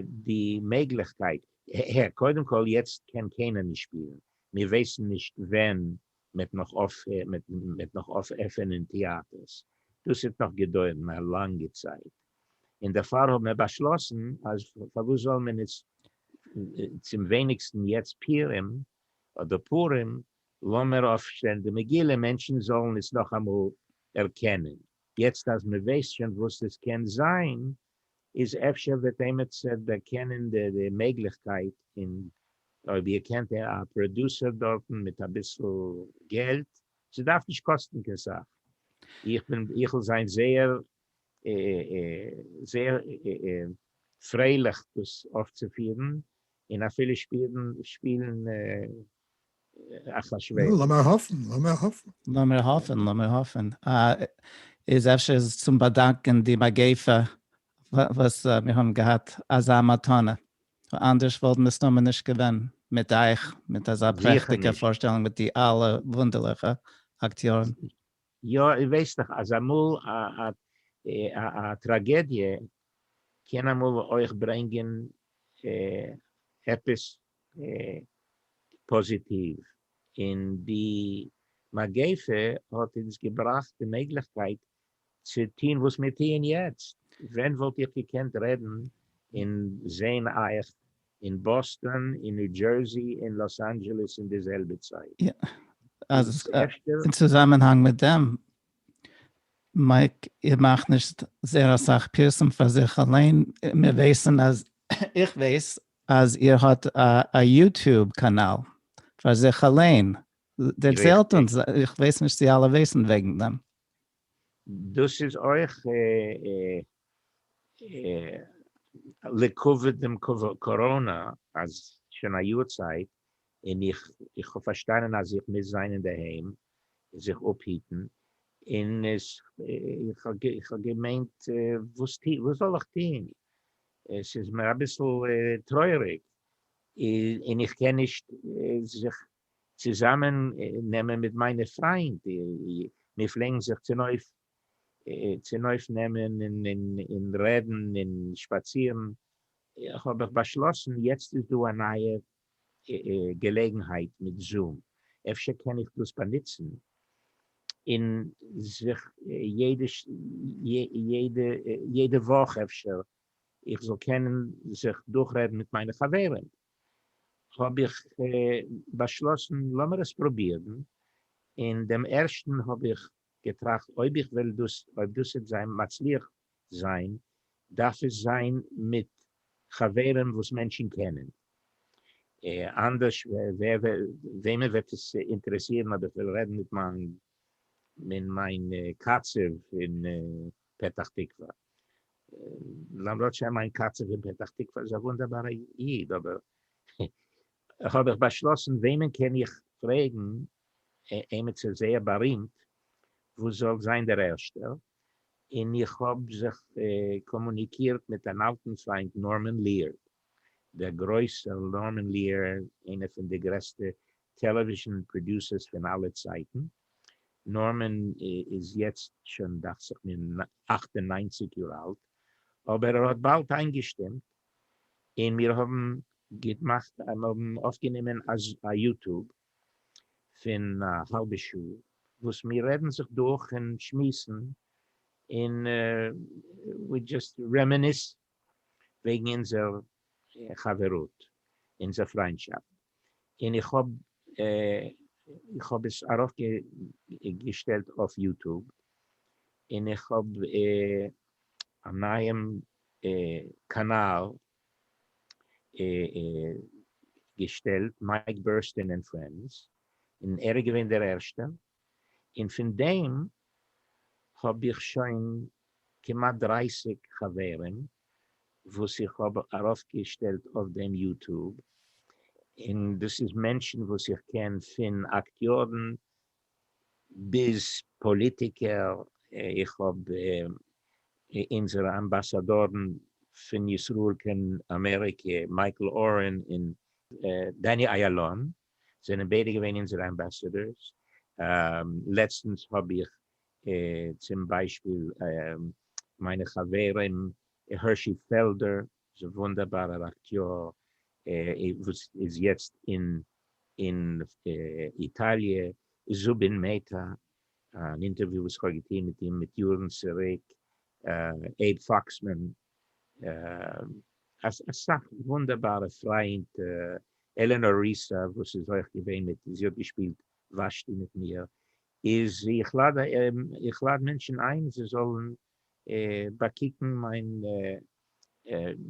די מעגליכקייט. הער קודם כל יעצט קען קיינער נישט שפילן, מיר ווייסן נישט ווען מיט נאך אויפענען טיאטערס, דאס האט נאך געדויערן א לאנגע צייט, און דערפאר האבן מיר באשלאסן אז פארוואס זאל מען נישט צום ווייניגסטן יעצט פירים אדער פורים לאמיר אויפשטעלן די מגילה מענטשן זאלן עס נאכאמאל ערקענען, יעצט אז מען ווייסט שוין וואס עס קען זיין איז אפשר וועט עימעצער דערקענען די מעגליכקייט און אויב איר קענט א פראדוסער דארטן מיט אביסל געלט, ס'דארף נישט קאסטן קיין סאך, איך בין איך'ל זיין זייער זייער פרייליך דאס אויפצופירן און אפילו שפילן אחשורוש. לאמיר האפן, לאמיר האפן. לאמיר האפן, לאמיר האפן. איז אפשר איז צום באדאנקען די מגיפה וואס מיר האבן געהאט אזא מתנה, אנדערש וואלט מסתמא נישט געווען מיט אייך מיט אזא פרעכטיגע פארשטעלונג מיט די אלע וואונדערליכע אקטיארן. יא איר ווייסט דאך אז אמאל א טראגעדיע קען אמאל אויך ברענגען עפעס פאזיטיוו, און די מגיפה האט אונז געבראכט די מעגליכקייט צו טוהן וואס מיר טוען יעצט, ווען וואלט איך געקענט רעדן און זעהן אייך אין באסטאן אין ניו דזשערסי אין לאס אנדזשעלעס אין די זעלבע צייט איז עס ערשטער. אין צוזאמענהאנג מיט דעם, מייק, איך מאך נישט זייער אסאך פירסום פאר זיך אליין, מיר ווייסן אז, איך ווייס אז איר האט א יוטוב קאנאל פאר זיך אליין, דערציילט אונז, איך ווייס נישט צו אלע ווייסן וועגן דעם. דאס איז אויך לכבוד דעם קאראנא אז שוין א יאר צייט און איך האב פארשטאנען אז איך מוז זיין אינדערהיים און זיך אפהיטן און איך האב געמיינט וואס זאל איך טון עס איז מיר אביסל טרויעריג און איך קען נישט זיך צוזאמען נעמען מיט מיינע פריינט, מיר פלעגן זיך צונויף נעמען און רעדן און שפאצירן, האב איך באשלאסן יעצט איז דא א נייע געלעגנהייט מיט זום, אפשר קען איך דאס באנוצן און זיך יעדע וואך אפשר איך זאל קענען זיך דורכרעדן מיט מיינע חברים. האב איך באשלאסן לאמיר עס פרובירן, אין דעם ערשטן האב איך געטראכט אויב איך וועל דאס אויב דאס וועט זיין מצליח זיין דארף עס זיין מיט חברים וואס מענטשן קענען, אנדערש וועמען וועט עס אינטערעסירן אויב איך וועל רעדן מיט מיין קצב און פתח תקווה. למרות שמיין קצב אין פתח תקווה איז א וואונדערבארע איד, אבער האב איך באשלאסן וועמען קען איך פרעגן, עמיצער זייער בארימט וואס זאל זיין דער ערשטער, און איך האב זיך קאמוניקירט מיט אן אלטן פריינט נארמען ליערד, דער גרויסער נארמען ליערד, איינער פון די גרעסטע טעלעוויזשן פראדיוסערס פון אלע צייטן, נארמאן איז יעצט שוין דאכט זיך מיר אַכט און נײַנציק יאר אלט, אבער ער האט באלד איינגעשטימט און מיר האבן געמאכט מיר האבן אויפגענומען א יוטוב פון א האלבע שעה וואס מיר רעדן זיך דורך און שמועסן און ווי דזשאסט רעמעניסן. וועגן אונזער חברות, אונזער פריינדשאפט, און איך האב איך האב עס ארויפגעשטעלט אויף יוטוב, און איך האב א נייעם קאנאל געשטעלט, מייק בערסטען ענד פרענדס, און ער איז געווען דער ערשטער, און פון דעם האב איך שוין כמעט דרייסיג חברים וואס איך האב ארויפגעשטעלט אויף דעם יוטוב, און דאס איז מענטשן וואס איך קען פון אקטיארן ביז פאליטיקער, איך האב אונזערע אמבאסאדארן פון ישראל קיין אמעריקע, מייקל אורן און דעני איילון, זענען ביידע געווען אונזערע אמבעסעדארס, לעצטנס האב איך צום ביישפיל מיינע חברים הערשי פעלדער, איז א וואונדערבארער אקטיאר וואס איז יעצט אין איטאליע, זובין מעטא, אן אינטערוויו וואס איך האב געטון מיט אים מיט יארן צוריק, עיב פאקסמאן, אסאך וואונדערבארע פריינט, עלענאר ריסא וואס איז אויך געווען מיט, זי האט געשפילט ושתי מיט מיר, איז איך לאד איך לאד מענטשן איין זיי זאלן באקוקן מיין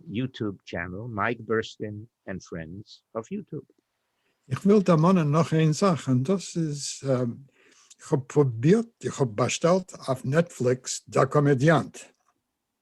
יוטוב טשענעל, מייק בורשטיין ענד פרענדס אויף יוטוב. איך וויל דערמאנען נאך איין זאך און דאס איז איך האב פרובירט איך האב באשטעלט אויף נעטפליקס דער קאמעדיאנט.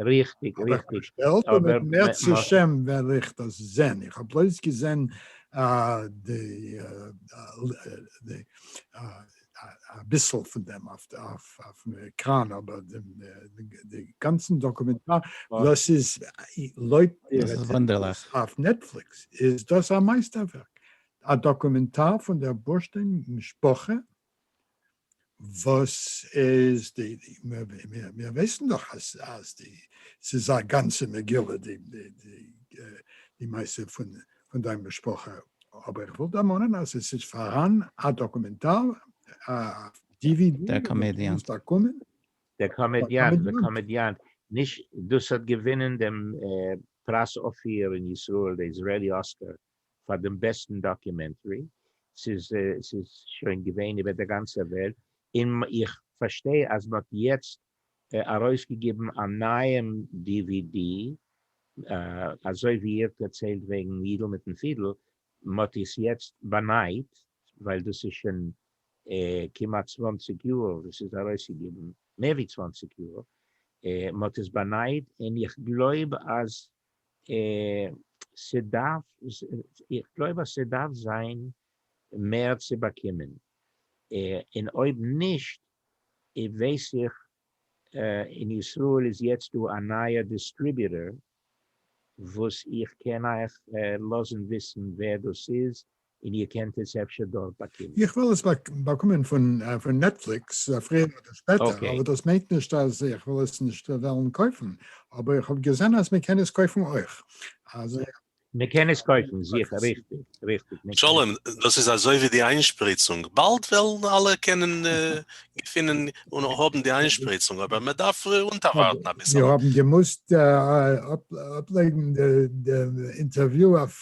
ריכטיג ריכטיג אבער מערצעשעם ווער איך דאס זען איך האב בלויז געזען די אביסל פון דעם אויפן עקראן אבער די גאנצן דאקומענטאר דאס איז לויט אויף נעטפליקס איז דאס א מייסטערווערק א דאקומענטאר פון דער בורשטיין משפחה וואס איז די, מיר ווייסן דאך אז די, ס'איז א גאנצע מגילה די מעשה פון דיין משפחה, אבער איך וויל דערמאנען אז עס איז פארהאן א דאקומענטאר אויף dvd וואס דו קענסט באקומען. דער קאמעדיאנט, The Comediant, נישט דאס האט געווינען דעם פרס אופיר אין ישראל, די איזראעלי אסקאר, פאר דעם בעסטן דאקומענטרי, ס'איז ס'איז שוין געווען איבער דער גאנצער וועלט, און איך פארשטיי אז מען האט יעצט ארויסגעגעבן א נייעם די ווי די, אזוי ווי איר דערציילט וועגן יידל מיטן פידל, מען האט עס יעצט באנייט, ווייל דאס איז שוין כמעט צוואַנציק יאר וואס ס'איז ארויסגעגעבן, מער ווי צוואַנציק יאר, מען האט עס באנייט, און איך גלויב אז ס'דארף, איך גלויב אז ס'דארף זיין מער צו באקומען, און אויב נישט ווייס איך אין ישראל איז יעצט דא א נייער דיסטריביוטער וואס איך קען אייך לאזן וויסן ווער דאס איז און איר קענט עס אפשר דארט באקומען. איך וועל עס באקומען פון נעטפליקס פריער אדער שפעטער, אבער דאס מיינט נישט אז איך וועל עס נישט וועלן קויפן, אבער איך האב געזען אז מען קען עס קויפן אויך, אז. מען קען עס קויפן, זיכער, ריכטיג, ריכטיג, מען קען. שלום, דאס איז אזוי ווי די איינשפריצונג, באלד וועלן אלע קענען געפינען און האבן די איינשפריצונג, אבער מען דארף אונטערווארטן אביסעלע. מיר האבן געמוזט אפלייגן די אינטערוויו אויף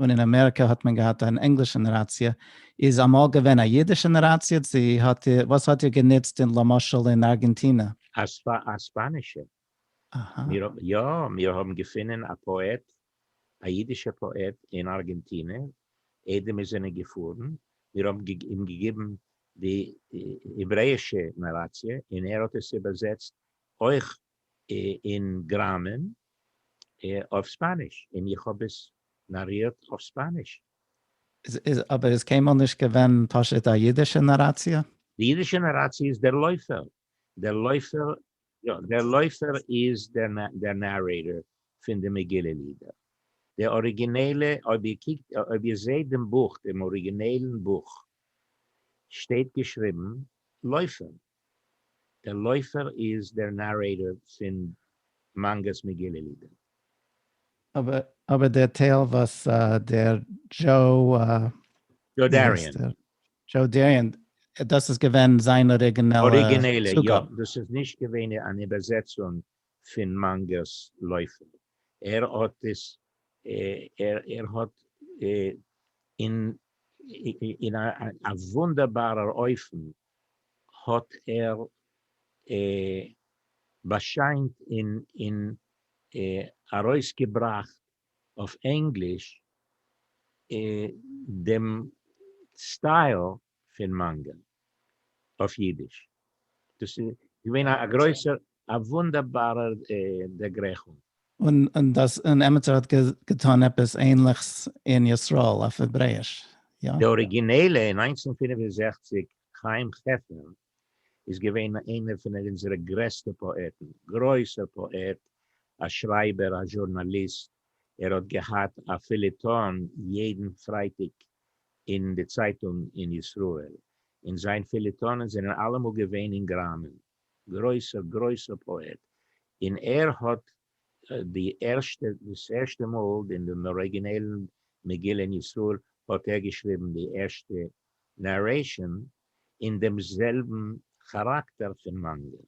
און אין אמעריקא האט מען געהאט אן ענגלישע נאראציע, איז אמאל געווען א אידישע נאראציע? צו האט איר, וואס האט איר גענוצט אין למשל אין ארגענטינע? א ספאנישע. אהא. מיר, יא, מיר האבן געפינען א פאעט, א אידישע פאעט אין ארגענטינע, איידער מיר זענען געפארן, מיר האבן אים געגעבן די העברעאישע נאראציע, און ער האט עס איבערזעצט אויך אין גראמען אויף ספאניש אין איך האב עס נארירט אויף ספאניש. אבער איז קיינמאל נישט געווען פשוט א אידישע נאראציע? די אידישע נאראציע איז דער לויפער, דער לויפער, יא, דער לויפער איז דער נארעיטער פון די מגילה לידער. די אריגינעלע, אויב איר קוקט, אויב איר זעהט דעם בוך, דעם אריגינעלן בוך, שטייט געשריבן לויפער. דער לויפער איז דער נארעיטאר פין מאנגא'ס מגילה לידער. אבער דער טייל וואס דער דזשאו. דזשאו דעריען. דזשאו דעריען, דאס איז געווען זיין אריגינעלע צוגאב. אריגינעלע, יא. דאס איז נישט געווען אן איבערזעצונג פין מאנגא'ס לויפער. ער האט עס ער האט אין א וואונדערבארער אופן האט ער באשיינט און ארויסגעבראכט אויף ענגליש דעם סטייל פון מאנגא אויף אידיש. דאס איז געווען א גרויסער א וואונדערבארער דערגרייכונג. און דאס און עמיצער האט געטאן עפעס ענליכס אין ישראל אויף העברעיש, יא? די אריגינעלע אין נײַנצן פֿינף און זעכציק חיים חפר איז געווען איינער פון אונזערע גרעסטע פאעטן, גרויסער פאעט, א שרייבער, א זשורנאליסט, ער האט געהאט א פיליטאן יעדן פרייטאג אין די צייטונג אין ישראל, און זיין פיליטאנען זענען אלעמאל געווען אין גראמען. גרויסער גרויסער פאעט, און ער האט די ערשטע דאס ערשטע מאל אין דעם אריגינעלן מגילה אין ישראל האט ער געשריבן די ערשטע נערעישאן אין דעם זעלבן כאראקטער פון מאנגא.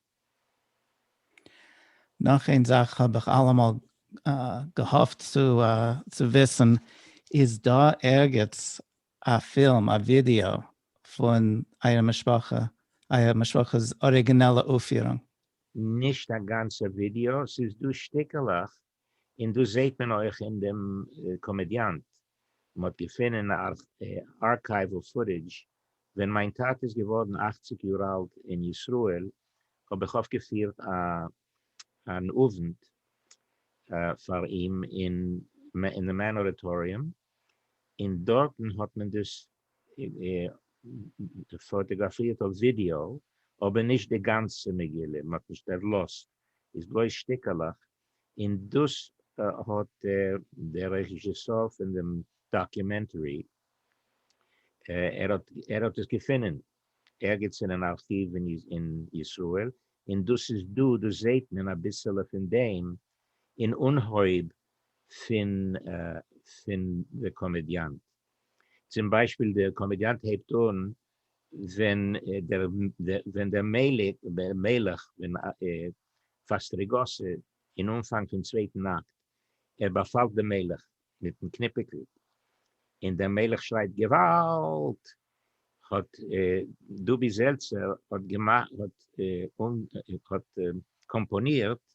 נאך איין זאך האב איך אלעמאל געהאפט צו וויסן, איז דא ערגעץ א פילם, א ווידעא, פון אייער משפחה, אייער משפחה'ס אריגינעלע אויפירונג. נישט א גאנצע ווידעא, ס'איז דא שטיקלעך, און דאס זעהט מען אויך אין דעם קאמעדיאנט, מ'האט געפונען ארכייוועל פוטעדזש, ווען מיין טאטע איז געווארן אַכציק יאר אלט אין ישראל, האב איך אויפגעפירט אן אוונט פאר אים אין די מעין אודיטאריום, און דארטן האט מען דאס פאטאגראפירט אויף ווידיאו, אבער נישט די גאנצע מגילה, מען האט נישט ערלאזט, איז בלויז שטיקעלעך, און דאס האט דער רעזשיסאר פון דעם דאקומענטערי, ער האט עס געפונען ערגעץ אין אן ארכיוו אין ישראל, און דאס איז דא, דאס זעט מען אביסעלע פון דעם אין אנהויב פון די קאמעדיאנט. צום ביישפיל די קאמעדיאנט הייבט אן ווען דער מלך פון פאסטריגאסע אין אנפאנג פון צווייטן אקט, ער באפאלט דעם מלך מיטן קניפיקל, און דער מלך שרייט געוואלד! האט דובי זעלצער האט קאמפאנירט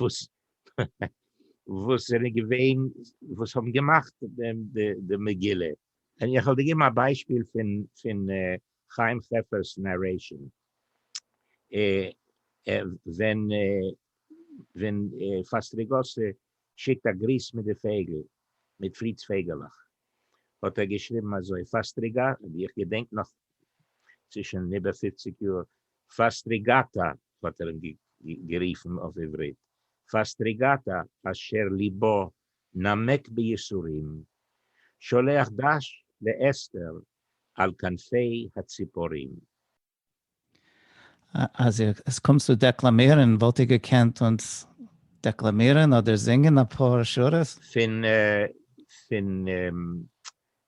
וואס וואס זענען געווען וואס האבן געמאכט די מגילה, און איך וועל דיר געבן א ביישפיל פון פון חיים חפר'ס נערעישאן, ווען ווען פאסטריגאסי שיקט א גריס מיט די פייגל, מיט פריץ פייגעלעך, האט ער געשריבן אזוי, פאסטריגא, איך געדענק נאך, ס'איז שוין איבער פופציג יאר, פאסטריגאטא האט ער אים גערופן אויף עברית פאסטריגאטא אשר ליבו נמק ביסורים שולח דש לאסתר על כנפי הציפורים. אז איר קומט צו דעקלאמירן וואלט איר געקענט אונז דעקלאמירן אדער זינגען אפאר שורות? פון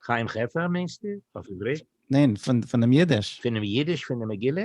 חיים חפר מיינסטו אויף עברית? ניין, פונעם אידיש. פונעם אידיש פון די מגילה?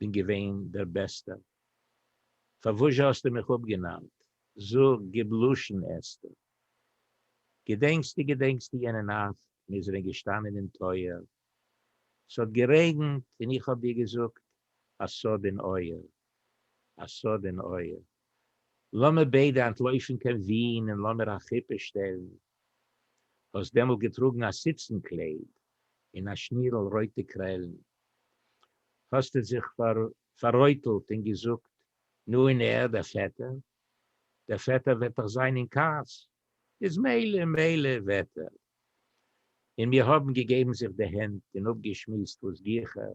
בין געווען דער בעסטער, פארוואזשע האסטו מיך אפגענארט, זאג, גיב לשון, אסתר, געדענקסטו, געדענקסטו יענע נאכט, מיר זענען געשטאנען אין טויער, ס'האט גערעגנט, און איך האב דיר געזאגט, א סוד אין אויער, א סוד אין אויער. לאמיר ביידע אנטלויפן קיין ווין און לאמיר א חופה שטעלן. האסט דעמאלט געטראגן א סיצן קלייד און א שנירל רויטע קרעלן. האסטו זיך פאררויטלט און געזאגט, נו און ער, דער פעטער? דער פעטער וועט דאך זיין אין כעס, איז מילא, מילא וועט ער. און מיר האבן געגעבן זיך די הענט און אפגעשמועסט וואס גיכער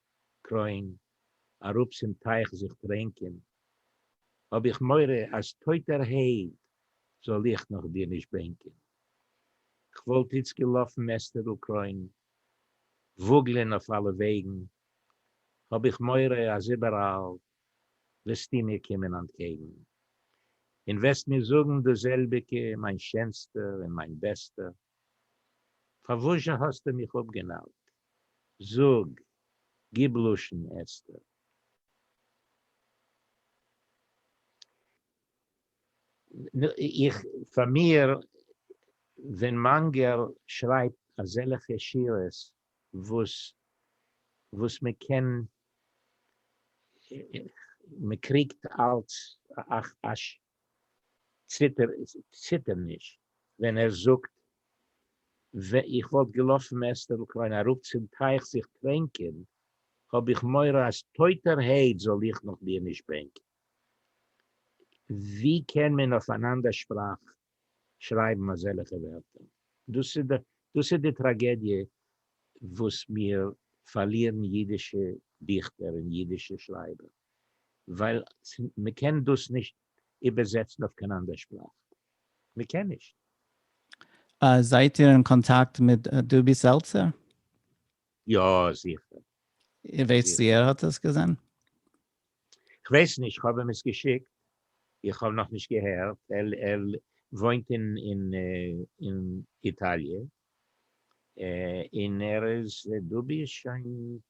קרוין, אראפ צום טייך זיך טרענקען, האב איך מורא אז טויטער העד זאל איך נאך דיר נישט בענקען. כ'וואלט איצט געלאפן אסתר'ל קרוין, וואגלען אויף אלע וועגן, האב איך מורא אז איבעראל וועסטו מיר קומען אנטקעגן, און וועסט מיר זאגן דאס זעלביגע, מיין שענסטער און מיין בעסטער, פארוואזשע האסטו מיך אפגענארט? זאג, גיב לשון אסתר. איך, פאר מיר, ווען מאנגער שרייבט אזעלעכע שורות וואס וואס מען קען, מען קריגט אלץ א ציטער נישט ווען ער זאגט ווען איך וואלט געלאפן מעסטערל קליין אראפ צום טייך זיך טרענקען האב איך מורא אז טויטער העט זאל איך נאך דיר נישט בענקען ווי קען מען אויף אן אנדער שפראך שרייבן אזעלעכע ווערטער דאס איז די טראגעדיע וואס מיר פארלירן אידישע דיכטער און אידישע שרייבער. ווייל מען קען דאס נישט איבערזעצן אויף קיין אנדער שפראך, מען קען נישט. זייט איר אין קאנטאקט מיט דובי סעלצער? יא זיכער. ווייסט צו ער האט עס געזען? כ'ווייס נישט, כ'האב אים עס געשיקט, איך האב נאכנישט געהערט, ער וואוינט אין איטאליע, און ער איז, דובי איז שוין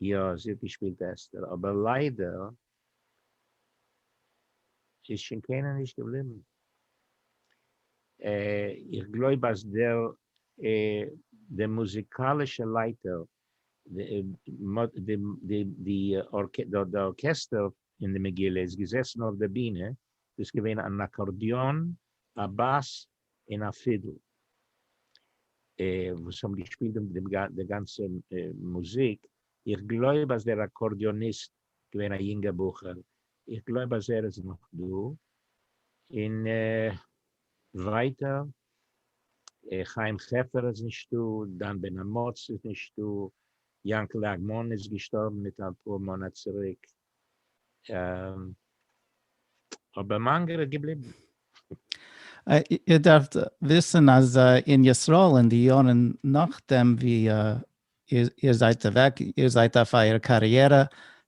יא זי האט געשפילט אסתר אבער ליידער איז שוין קיינער נישט געבליבן, איך גלויב אז דער דער מוזיקאלישע לייטער די ארקעסטער אין די מגילה איז געזעסן אויף די בינע, דאס איז געווען אן אקארדיאן, א באס, און א פידל וואס האבן געשפילט די גאנצע מוזיק, איך גלויב אז דער אקארדיאניסט געווען א יונגער בחור, איך גלויב אז ער איז נאך דא, און ווייטער חיים חפר איז נישטא, דן בן אמוץ איז נישטא, יענקלע אגמון איז געשטארבן מיט אפאר מאנאט צוריק, אבער מאנגער איז געבליבן. איר דארפט וויסן אז אין ישראל אין די יארן נאכדעם ווי איר זייט אוועק, איר זייט אויף אייער קאריערע,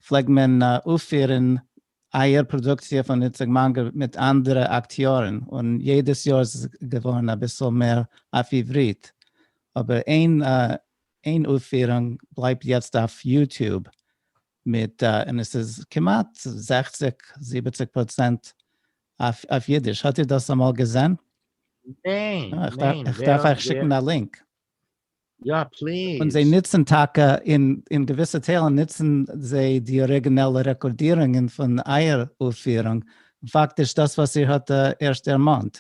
פלעגט מען אויפפירן אייער פראדוקציע פון איציק מאנגער מיט אנדערע אקטיארן, און יעדעס יאר איז עס געווארן אביסל מער אויף עברית, אבער איין אויפפירונג בלייבט יעצט אויף יוטיוב, מיט א, און עס איז כמעט זעכציג זיבעציג פראצענט אויף אידיש, האט איר דאס אמאל געזען? ניין, ניין, איך דארף אייך שיקן א לינק. יא פליז. און זיי נוצן טאקע אין אין געוויסע טיילן נוצן זיי די אריגינעלע רעקארדירונגען פון אייער אויפפירונג, פאקטיש דאס וואס איר האט ערשט דערמאנט.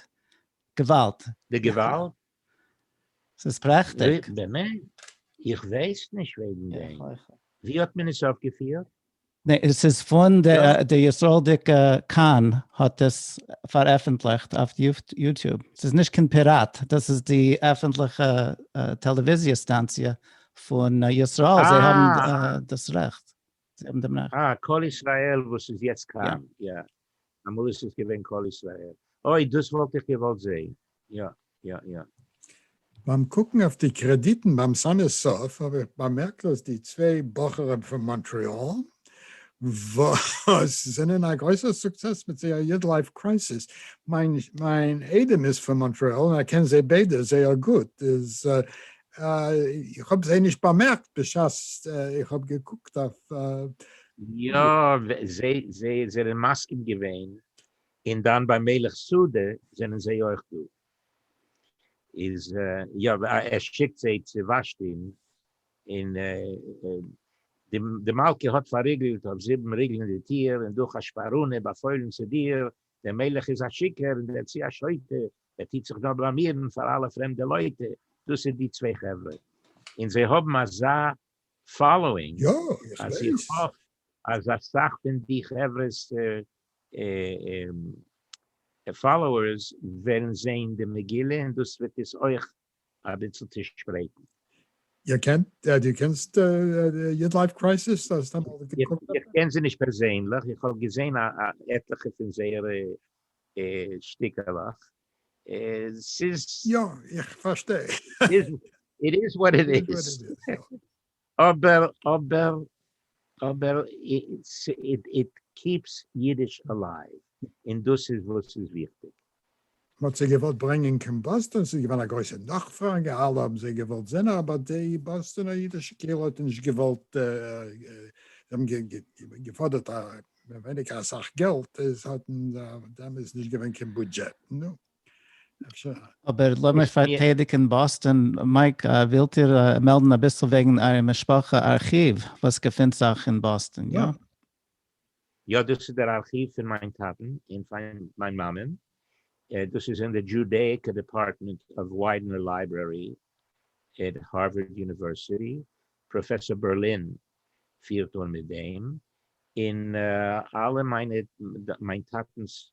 געוואלד. די געוואלד? ס'איז פרעכטיג. באמת? איך ווייס נישט וועגן דעם. ווי האט מען עס אויפגעפירט? נעה, ס'איז פון די ישראל'דיגע כאן האט עס פארעפענטליכט אויף יוטוב. ס'איז נישט קיין פיראט, דאס איז די עפענטליכע טעלעוויזיע סטאנציע פון ישראל, זיי האבן דאס רעכט. זיי האבן דעם רעכט. אה, קול ישראל וואס איז יעצט כאן, יא. אמאל איז עס געווען קול ישראל. אוי, דאס וואלט איך געוואלט זעהן. יא, יא, יא. ביים קוקן אויף די קרעדיטן ביים סאנעס סוף האב איך באמערקט אז די צוויי בחורים פון מאנטריאל וואס זענען א גרויסע סוקסעס מיט זייער יד לייף קרייסיס, מיין איידעם איז פון מאנטריאל און איך קען זיי ביידע זייער גוט, איז איך האב זיי נישט באמערקט בשעת איך האב געקוקט אויף. יא, זיי זענען מסכים געווען, און דאן ביי מלך סעודה זענען זיי אויך דא. איז יא ער שיקט זיי צו ושתי'ן, און די מלכה האט פארריגלט אויף זיבן ריגלען די טיר, און דורך א שפאראנע באפוילן צו דיר דער מלך איז א שיקער און דערצי א שוטה, ער טיט זיך דא בלאמירן פאר אלע פרעמדע לויטע, דאס איז די צוויי חברה און זיי האבן אזא פאלאווינג אז איך האף אז אסאך פון די חברה'ס פאלאוערס וועלן זעהן די מגילה און דאס וועט עס אויך אביצל צושפרייטן. איר קענט, דו קענסט יוט לייף קרייסיס? האסט אמאל געקוקט? איך קען זיי נישט פערזענליך, איך האב געזעהן עטליכע פון זייערע שטיקעלעך, ס'איז. יא, איך פארשטיי. איט איז וואט איט איז. אבער אבער אבער איט קיפס אידיש אלייוו און דאס איז וואס איז וויכטיג. מ'האט זיי געוואלט ברענגען קיין באסטאן, ס'איז געווען א גרויסע נאכפראגע, אלע האבן זיי געוואלט זען, אבער די באסטאנער אידישע קהילה האט נישט געוואלט, זיי האבן געפאדערט מער ווייניגער אסאך געלט, עס האט דעמאלס נישט געווען קיין בודזשעט, נו. אבער לאמיר פארטיידיגן באסטאן. מייק, ווילט איר מעלדן אביסל וועגן אייער משפחה ארכיוו וואס געפינט זיך אין באסטאן, יא? יא, דאס איז דער ארכיוו פון מיין טאטן און פון מיין מאמען. דאס איז אין די דזשודעיקא דעפארטמענט אוו וויידנער לייברערי עט הארווארד יוניווערסיטי. פראפעסאר בערלין פירט אן מיט דעם, און אלע מיינע מיין טאטנ'ס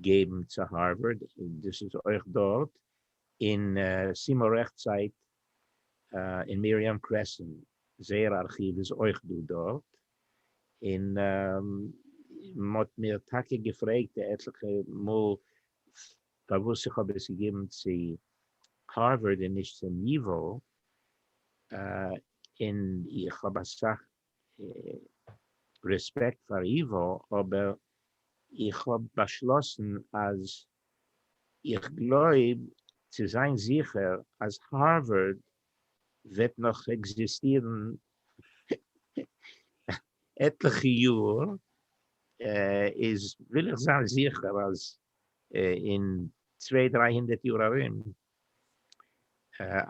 געבן צו הארווארד, דאס איז אויך דארט, און סימא רעכט סייט אין מיריעם קרעסענט, זייער ארכיוו איז אויך דא דארט, און מען האט מיר טאקע געפרעגט עטליכע מאל פארוואס איך האב עס געגעבן צו הארווארד און נישט צו ייוואו, און איך האב אסאך רעספעקט פאר איווא, אבער איך האב באשלאסן אז איך גלויב צו זיין זיכער אז הארווארד וועט נאך עקזיסטירן עטליכע יאר, איז וויל איך זיין זיכער אז אין צוויי דריי הונדערט יאר ארום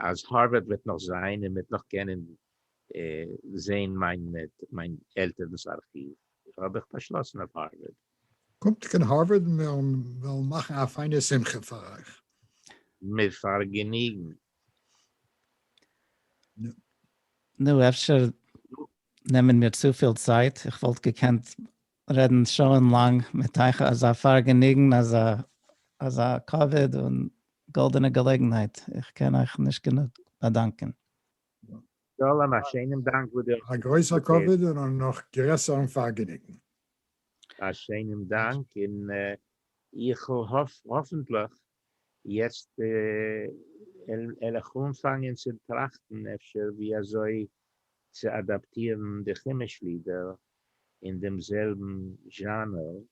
אז הארווארד וועט נאך זיין און מ'וועט נאך קענען זעהן מיין מיין עלטערנס ארכיוו האב איך באשלאסן אויף הארווארד. קומט קיין הארווארד און מיר וועלן מאכן א פיינע שמחה פאר אייך. מיט פארגעניגן. נו, אפשר נעמען מיר צופיל צייט, איך וואלט געקענט רעדן שעה'ן לאנג מיט אייך, אזא פארגעניגן, אזא אזא כבוד און גאלדענע געלעגנהייט, איך קען אייך נישט גענוג באדאנקען. שלום, א שיינעם דאנק וואס דו האסט א גרויסער כבוד און א נאך גרעסערן פארגעניגן. א שיינעם דאנק, און איך האף האפענטליך יעצט על איך אנפאנגען צו טראכטן אפשר ווי אזוי צו אדאפטירן די חומש לידער אין דעם זעלבן זשאנער,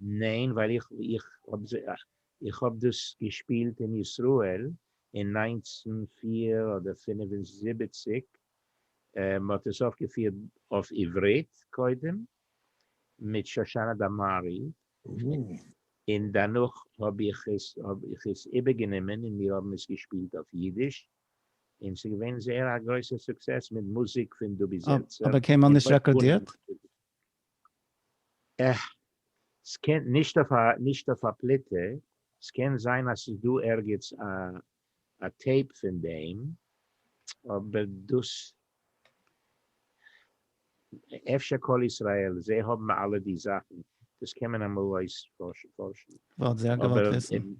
ניין ווייל איך איך איך האב דאס געשפילט אין ישראל אין נײַנצן פֿיר אדער פֿינף און זיבעציק מען האט עס אויפגעפירט אויף עברית קודם מיט שושנה דמארי און דערנאך האב איך עס האב איך עס איבערגענומען און מיר האבן עס געשפילט אויף אידיש און ס'איז געווען זייער א גרויסע סוקסעס מיט מוזיק פון דובי זעלצער. אבער קיינמאל נישט רעקארדירט? אה. סקען, נישט אויף א, נישט אויף א פליטה, סקען זיין אז סאיז דא ערגעץ א א טעיפ פון דעים, אבער דאס, אפשר קול ישראל, זיי האבן אלע די זאכן, דאס קען מען אמאל אויס פארשן. וואלט זייער געוואלט וויסן.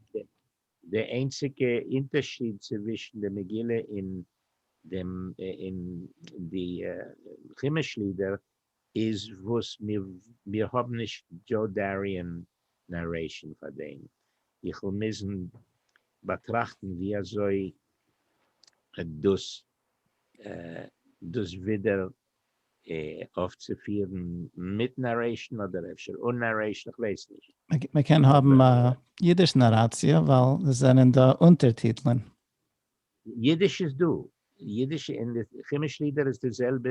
די איינציגע אינטערשיד צווישן די מגילה אין דעם, אין די חומש לידער איז וואס מיר האבן נישט דזשאו דאריען נארעישן פאר דעם, איך וועל מוזן באטראכטן ווי אזוי דאס דאס ווידער אויפצופירן מיט נארעישן אדער אפשר אן נארעישן, איך ווייס נישט. מען קען האבן א אידיש נאראציע ווייל עס זענען דא אונטערטיטלען. אידיש איז דא, אידיש און כימיש לידער איז די זעלבע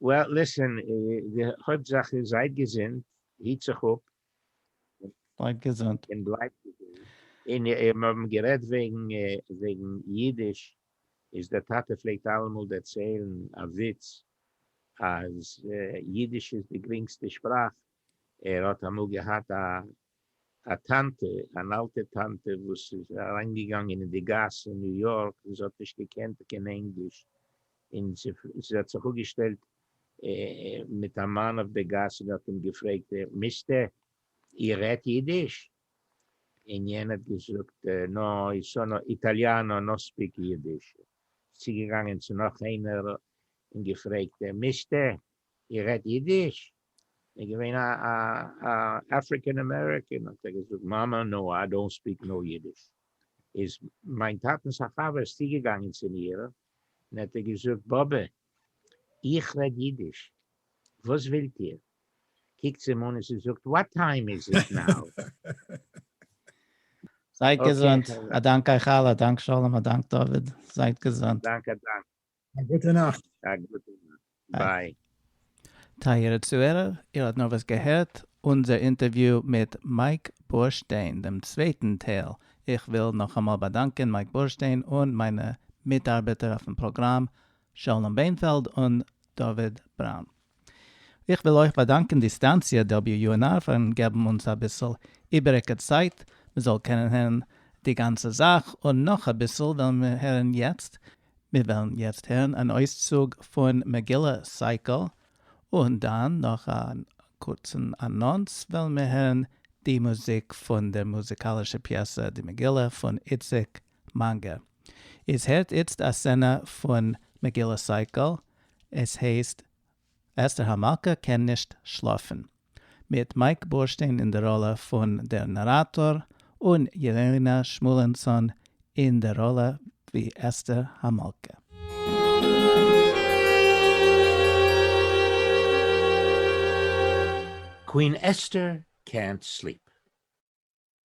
וועל ליסען, די הויפט זאך איז זייט געזונט, היט זיך אפ, בלייבט געזונט, און בלייבט געזונט, און מיר האבן גערעדט וועגן וועגן אידיש, איז דער טאטע פלעגט אלעמאל דערציילן א וויץ אז אידיש איז די גרינגסטע שפראך, ער האט אמאל געהאט א א טאנטע, אן אלטע טאנטע וואס איז אריינגעגאנגען אין די גאס אין ניו יארק, זי האט נישט געקענט קיין ענגליש, און זי האט זיך אפגעשטעלט מיט א מאן אויף די גאס און האט אים געפרעגט, מיסטער, איר רעדט אידיש? און יענער האט געזאגט, נא, אי סאנא איטאליאנא, נא ספיק אידיש. זי איז צוגעגאנגען צו נאך איינער און געפרעגט, מיסטער, איר רעדט אידיש? איז געווען א אפריקען אמעריקען האט ער געזאגט מאמע נאו איי דאנט ספיק נאו אידיש איז מיין טאטענס א חבר איז צוגעגאנגען צום איר און האט איר געזאגט באבע איך רעד אידיש וואס ווילט איר קוקט זי אים אן און זי זאגט וואט טיים איז איט נאו. זייט געזונט, א דאנק אייך אלע, א דאנק שלום, א דאנק דוד, זייט געזונט. א דאנק א דאנק. א גוטע נאכט. א גוטע נאכט. ביי. טייערע צוהערער, איר האט נארוואס געהערט אונזער אינטערוויו מיט מייק בורשטיין, דעם צווייטן טייל. איך וויל נאכאמאל באדאנקען מייק בורשטיין און מיינע מיטארבעטער אויפן פראגראם, שלום ביינפעלד און דוד בראון. איך וויל אויך באדאנקען די סטאנציע WUNR פארן געבן אונז אביסל איבעריגע צייט מען זאל קענען הערן די גאנצע זאך, און נאך אביסל וועלן מיר הערן יעצט, מיר וועלן יעצט הערן אן אויסצוג פון מגילה סייקל, און דאן נאך א קורצן אנאנס וועלן מיר הערן די מוזיק פון דער מוזיקאלישע פיעסע די מגילה פון איציק מאנגע. איז הערט איצט א סצענע פון מגילה סייקל, עס הייסט אסתר המלכה קען נישט שלאפן, מיט מייק בורשטיין אין די ראלע פון דער נאראטאר און יעלענא שמואלענסאן אין די ראלע ווי אסתר המלכה. קווין אסתר קענט סליפ.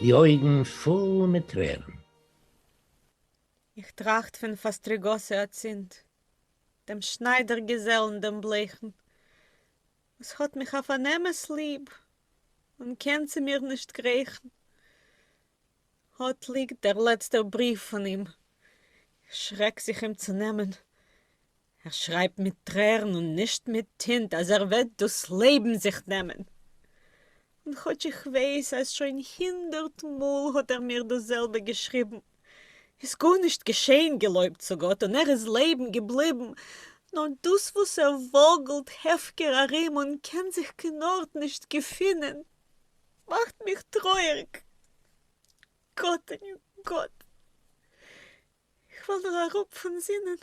די אויגן פול מיט טרערן. איך טראכט פון פאסטריגאסע אצינד, דעם שניידער געזעלן דעם בלעכן, וואס האט מיך אויף אן אמת ליב און קען צו מיר נישט גרעכן. אט ליגט דער לעצטער בריוו פון אים, איך שרעק זיך אים צו נעמען, ער שרייבט מיט טרערן און נישט מיט טינט אז ער וועט דאס לעבן זיך נעמען. און כאטש איך ווייס אז שוין הינדערט מאל האט ער מיר דאס זעלבע געשריבן, איז גארנישט געשען געלויבט צו גאט און ער איז לעבן געבליבן, נאר דאס וואס ער וואגלט הפקר ארום און קען זיך קיין ארט נישט געפינען מאכט מיך טרויערג. גאט, גאט, איך וועל דיר אראפ פון זינען.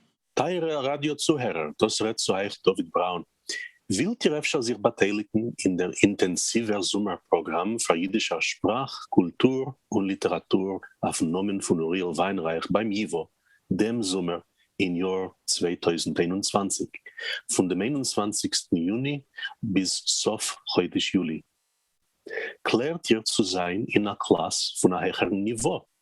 טייערע ראדיא צוהערער, דאס רעדט צו אייך דוד בראון. ווילט איר אפשר זיך באטייליגן אין דער אינטענסיווער זומער פראגראם פאר אידישער שפראך, קולטור און ליטעראטור אויפן נאמען פון אוריאל וויינרייך ביים ייווא דעם זומער אין יאר צוויי טויזנט איין און צוואַנציק פון דעם איין און צוואַנציקסטן יוני ביז סוף חודש יולי? קלערט איר צו זיין אין א קלאס פון א העכערן ניווא?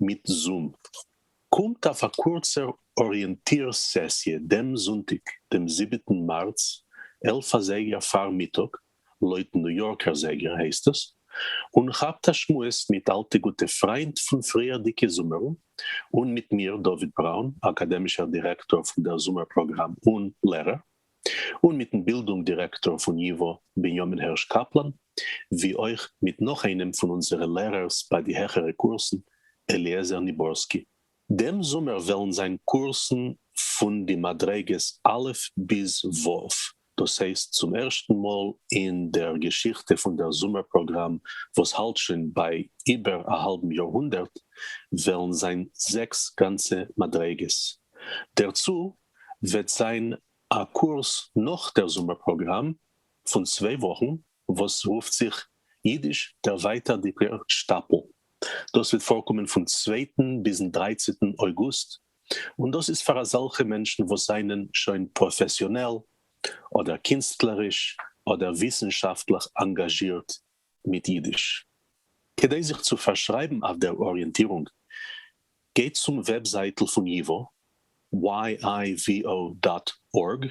מיט זום קומט אויף א קורצער אריענטיר סעסיע דעם זונטאג דעם זיבעטן מארץ עלף אזייגער פארמיטאג לויט ניו יארקער זייגער הייסט עס, און כאפט א שמועס מיט אלטע גוטע פריינט פון פריערדיגע זומערן און מיט מיר דוד בראון אקאדעמישער דירעקטאר פון דער זומער פראגראם און לערער. און מיטן בילדונג דירעקטאר פון ייווא בנימין הערש קאפלאן, ווי אויך מיט נאך איינעם פון אונזערע לערערס ביי די העכערע קורסן, אליעזר ניבורסקי. דעם זומער וועלן זיין קורסן פון די מדריגות א' ביז ו', דאס הייסט צום ערשטן מאל אין דער געשיכטע פון דער זומער פראגראם וואס האלט שוין ביי איבער א האלבן יאר-הונדערט, וועלן זיין זעקס גאנצע מדריגות. דערצו וועט זיין א קורס נאך דער זומער פראגראם פון צוויי וואכן וואס רופט זיך אידיש דערווייטערדיגער שטאפל, דאס וועט פארקומען פון צווייטן ביזן דרייצעטן אויגוסט, און דאס איז פאר אזעלכע מענטשן וואס זענען שוין פראפעסיאנעל אדער קינסטלעריש אדער וויסנשאפטליך אנגאזשירט מיט אידיש. כדי זיך צו פארשרייבן אויף דער אריענטירונג, גייט צום וועבזייטל פון ייווא, yivo.org,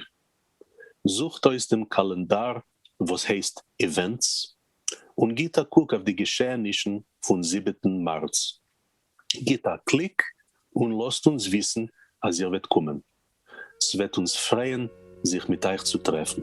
זוכט אויס דעם קאלענדאר וואס הייסט איווענטס, און גיט א קוק אויף די געשעהנישן פון זיבעטן מארץ. גיט א קליק און לאזט אונז וויסן אז איר וועט קומען. ס'וועט אונז פרייען זיך מיט אייך צו טרעפן.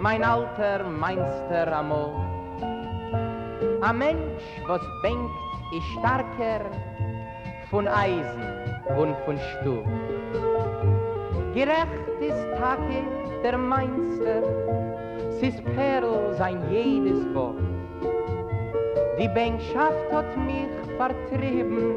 מיין אלטער מיינסטער אמאל. א מענטש וואס בענקט איז שטארקער פון אייזן און פון שטאל. גערעכט איז טאקע דער מיינסטער, ס'איז פערל זיין יעדעס ווארט. די בענקשאפט האט מיך פארטריבן.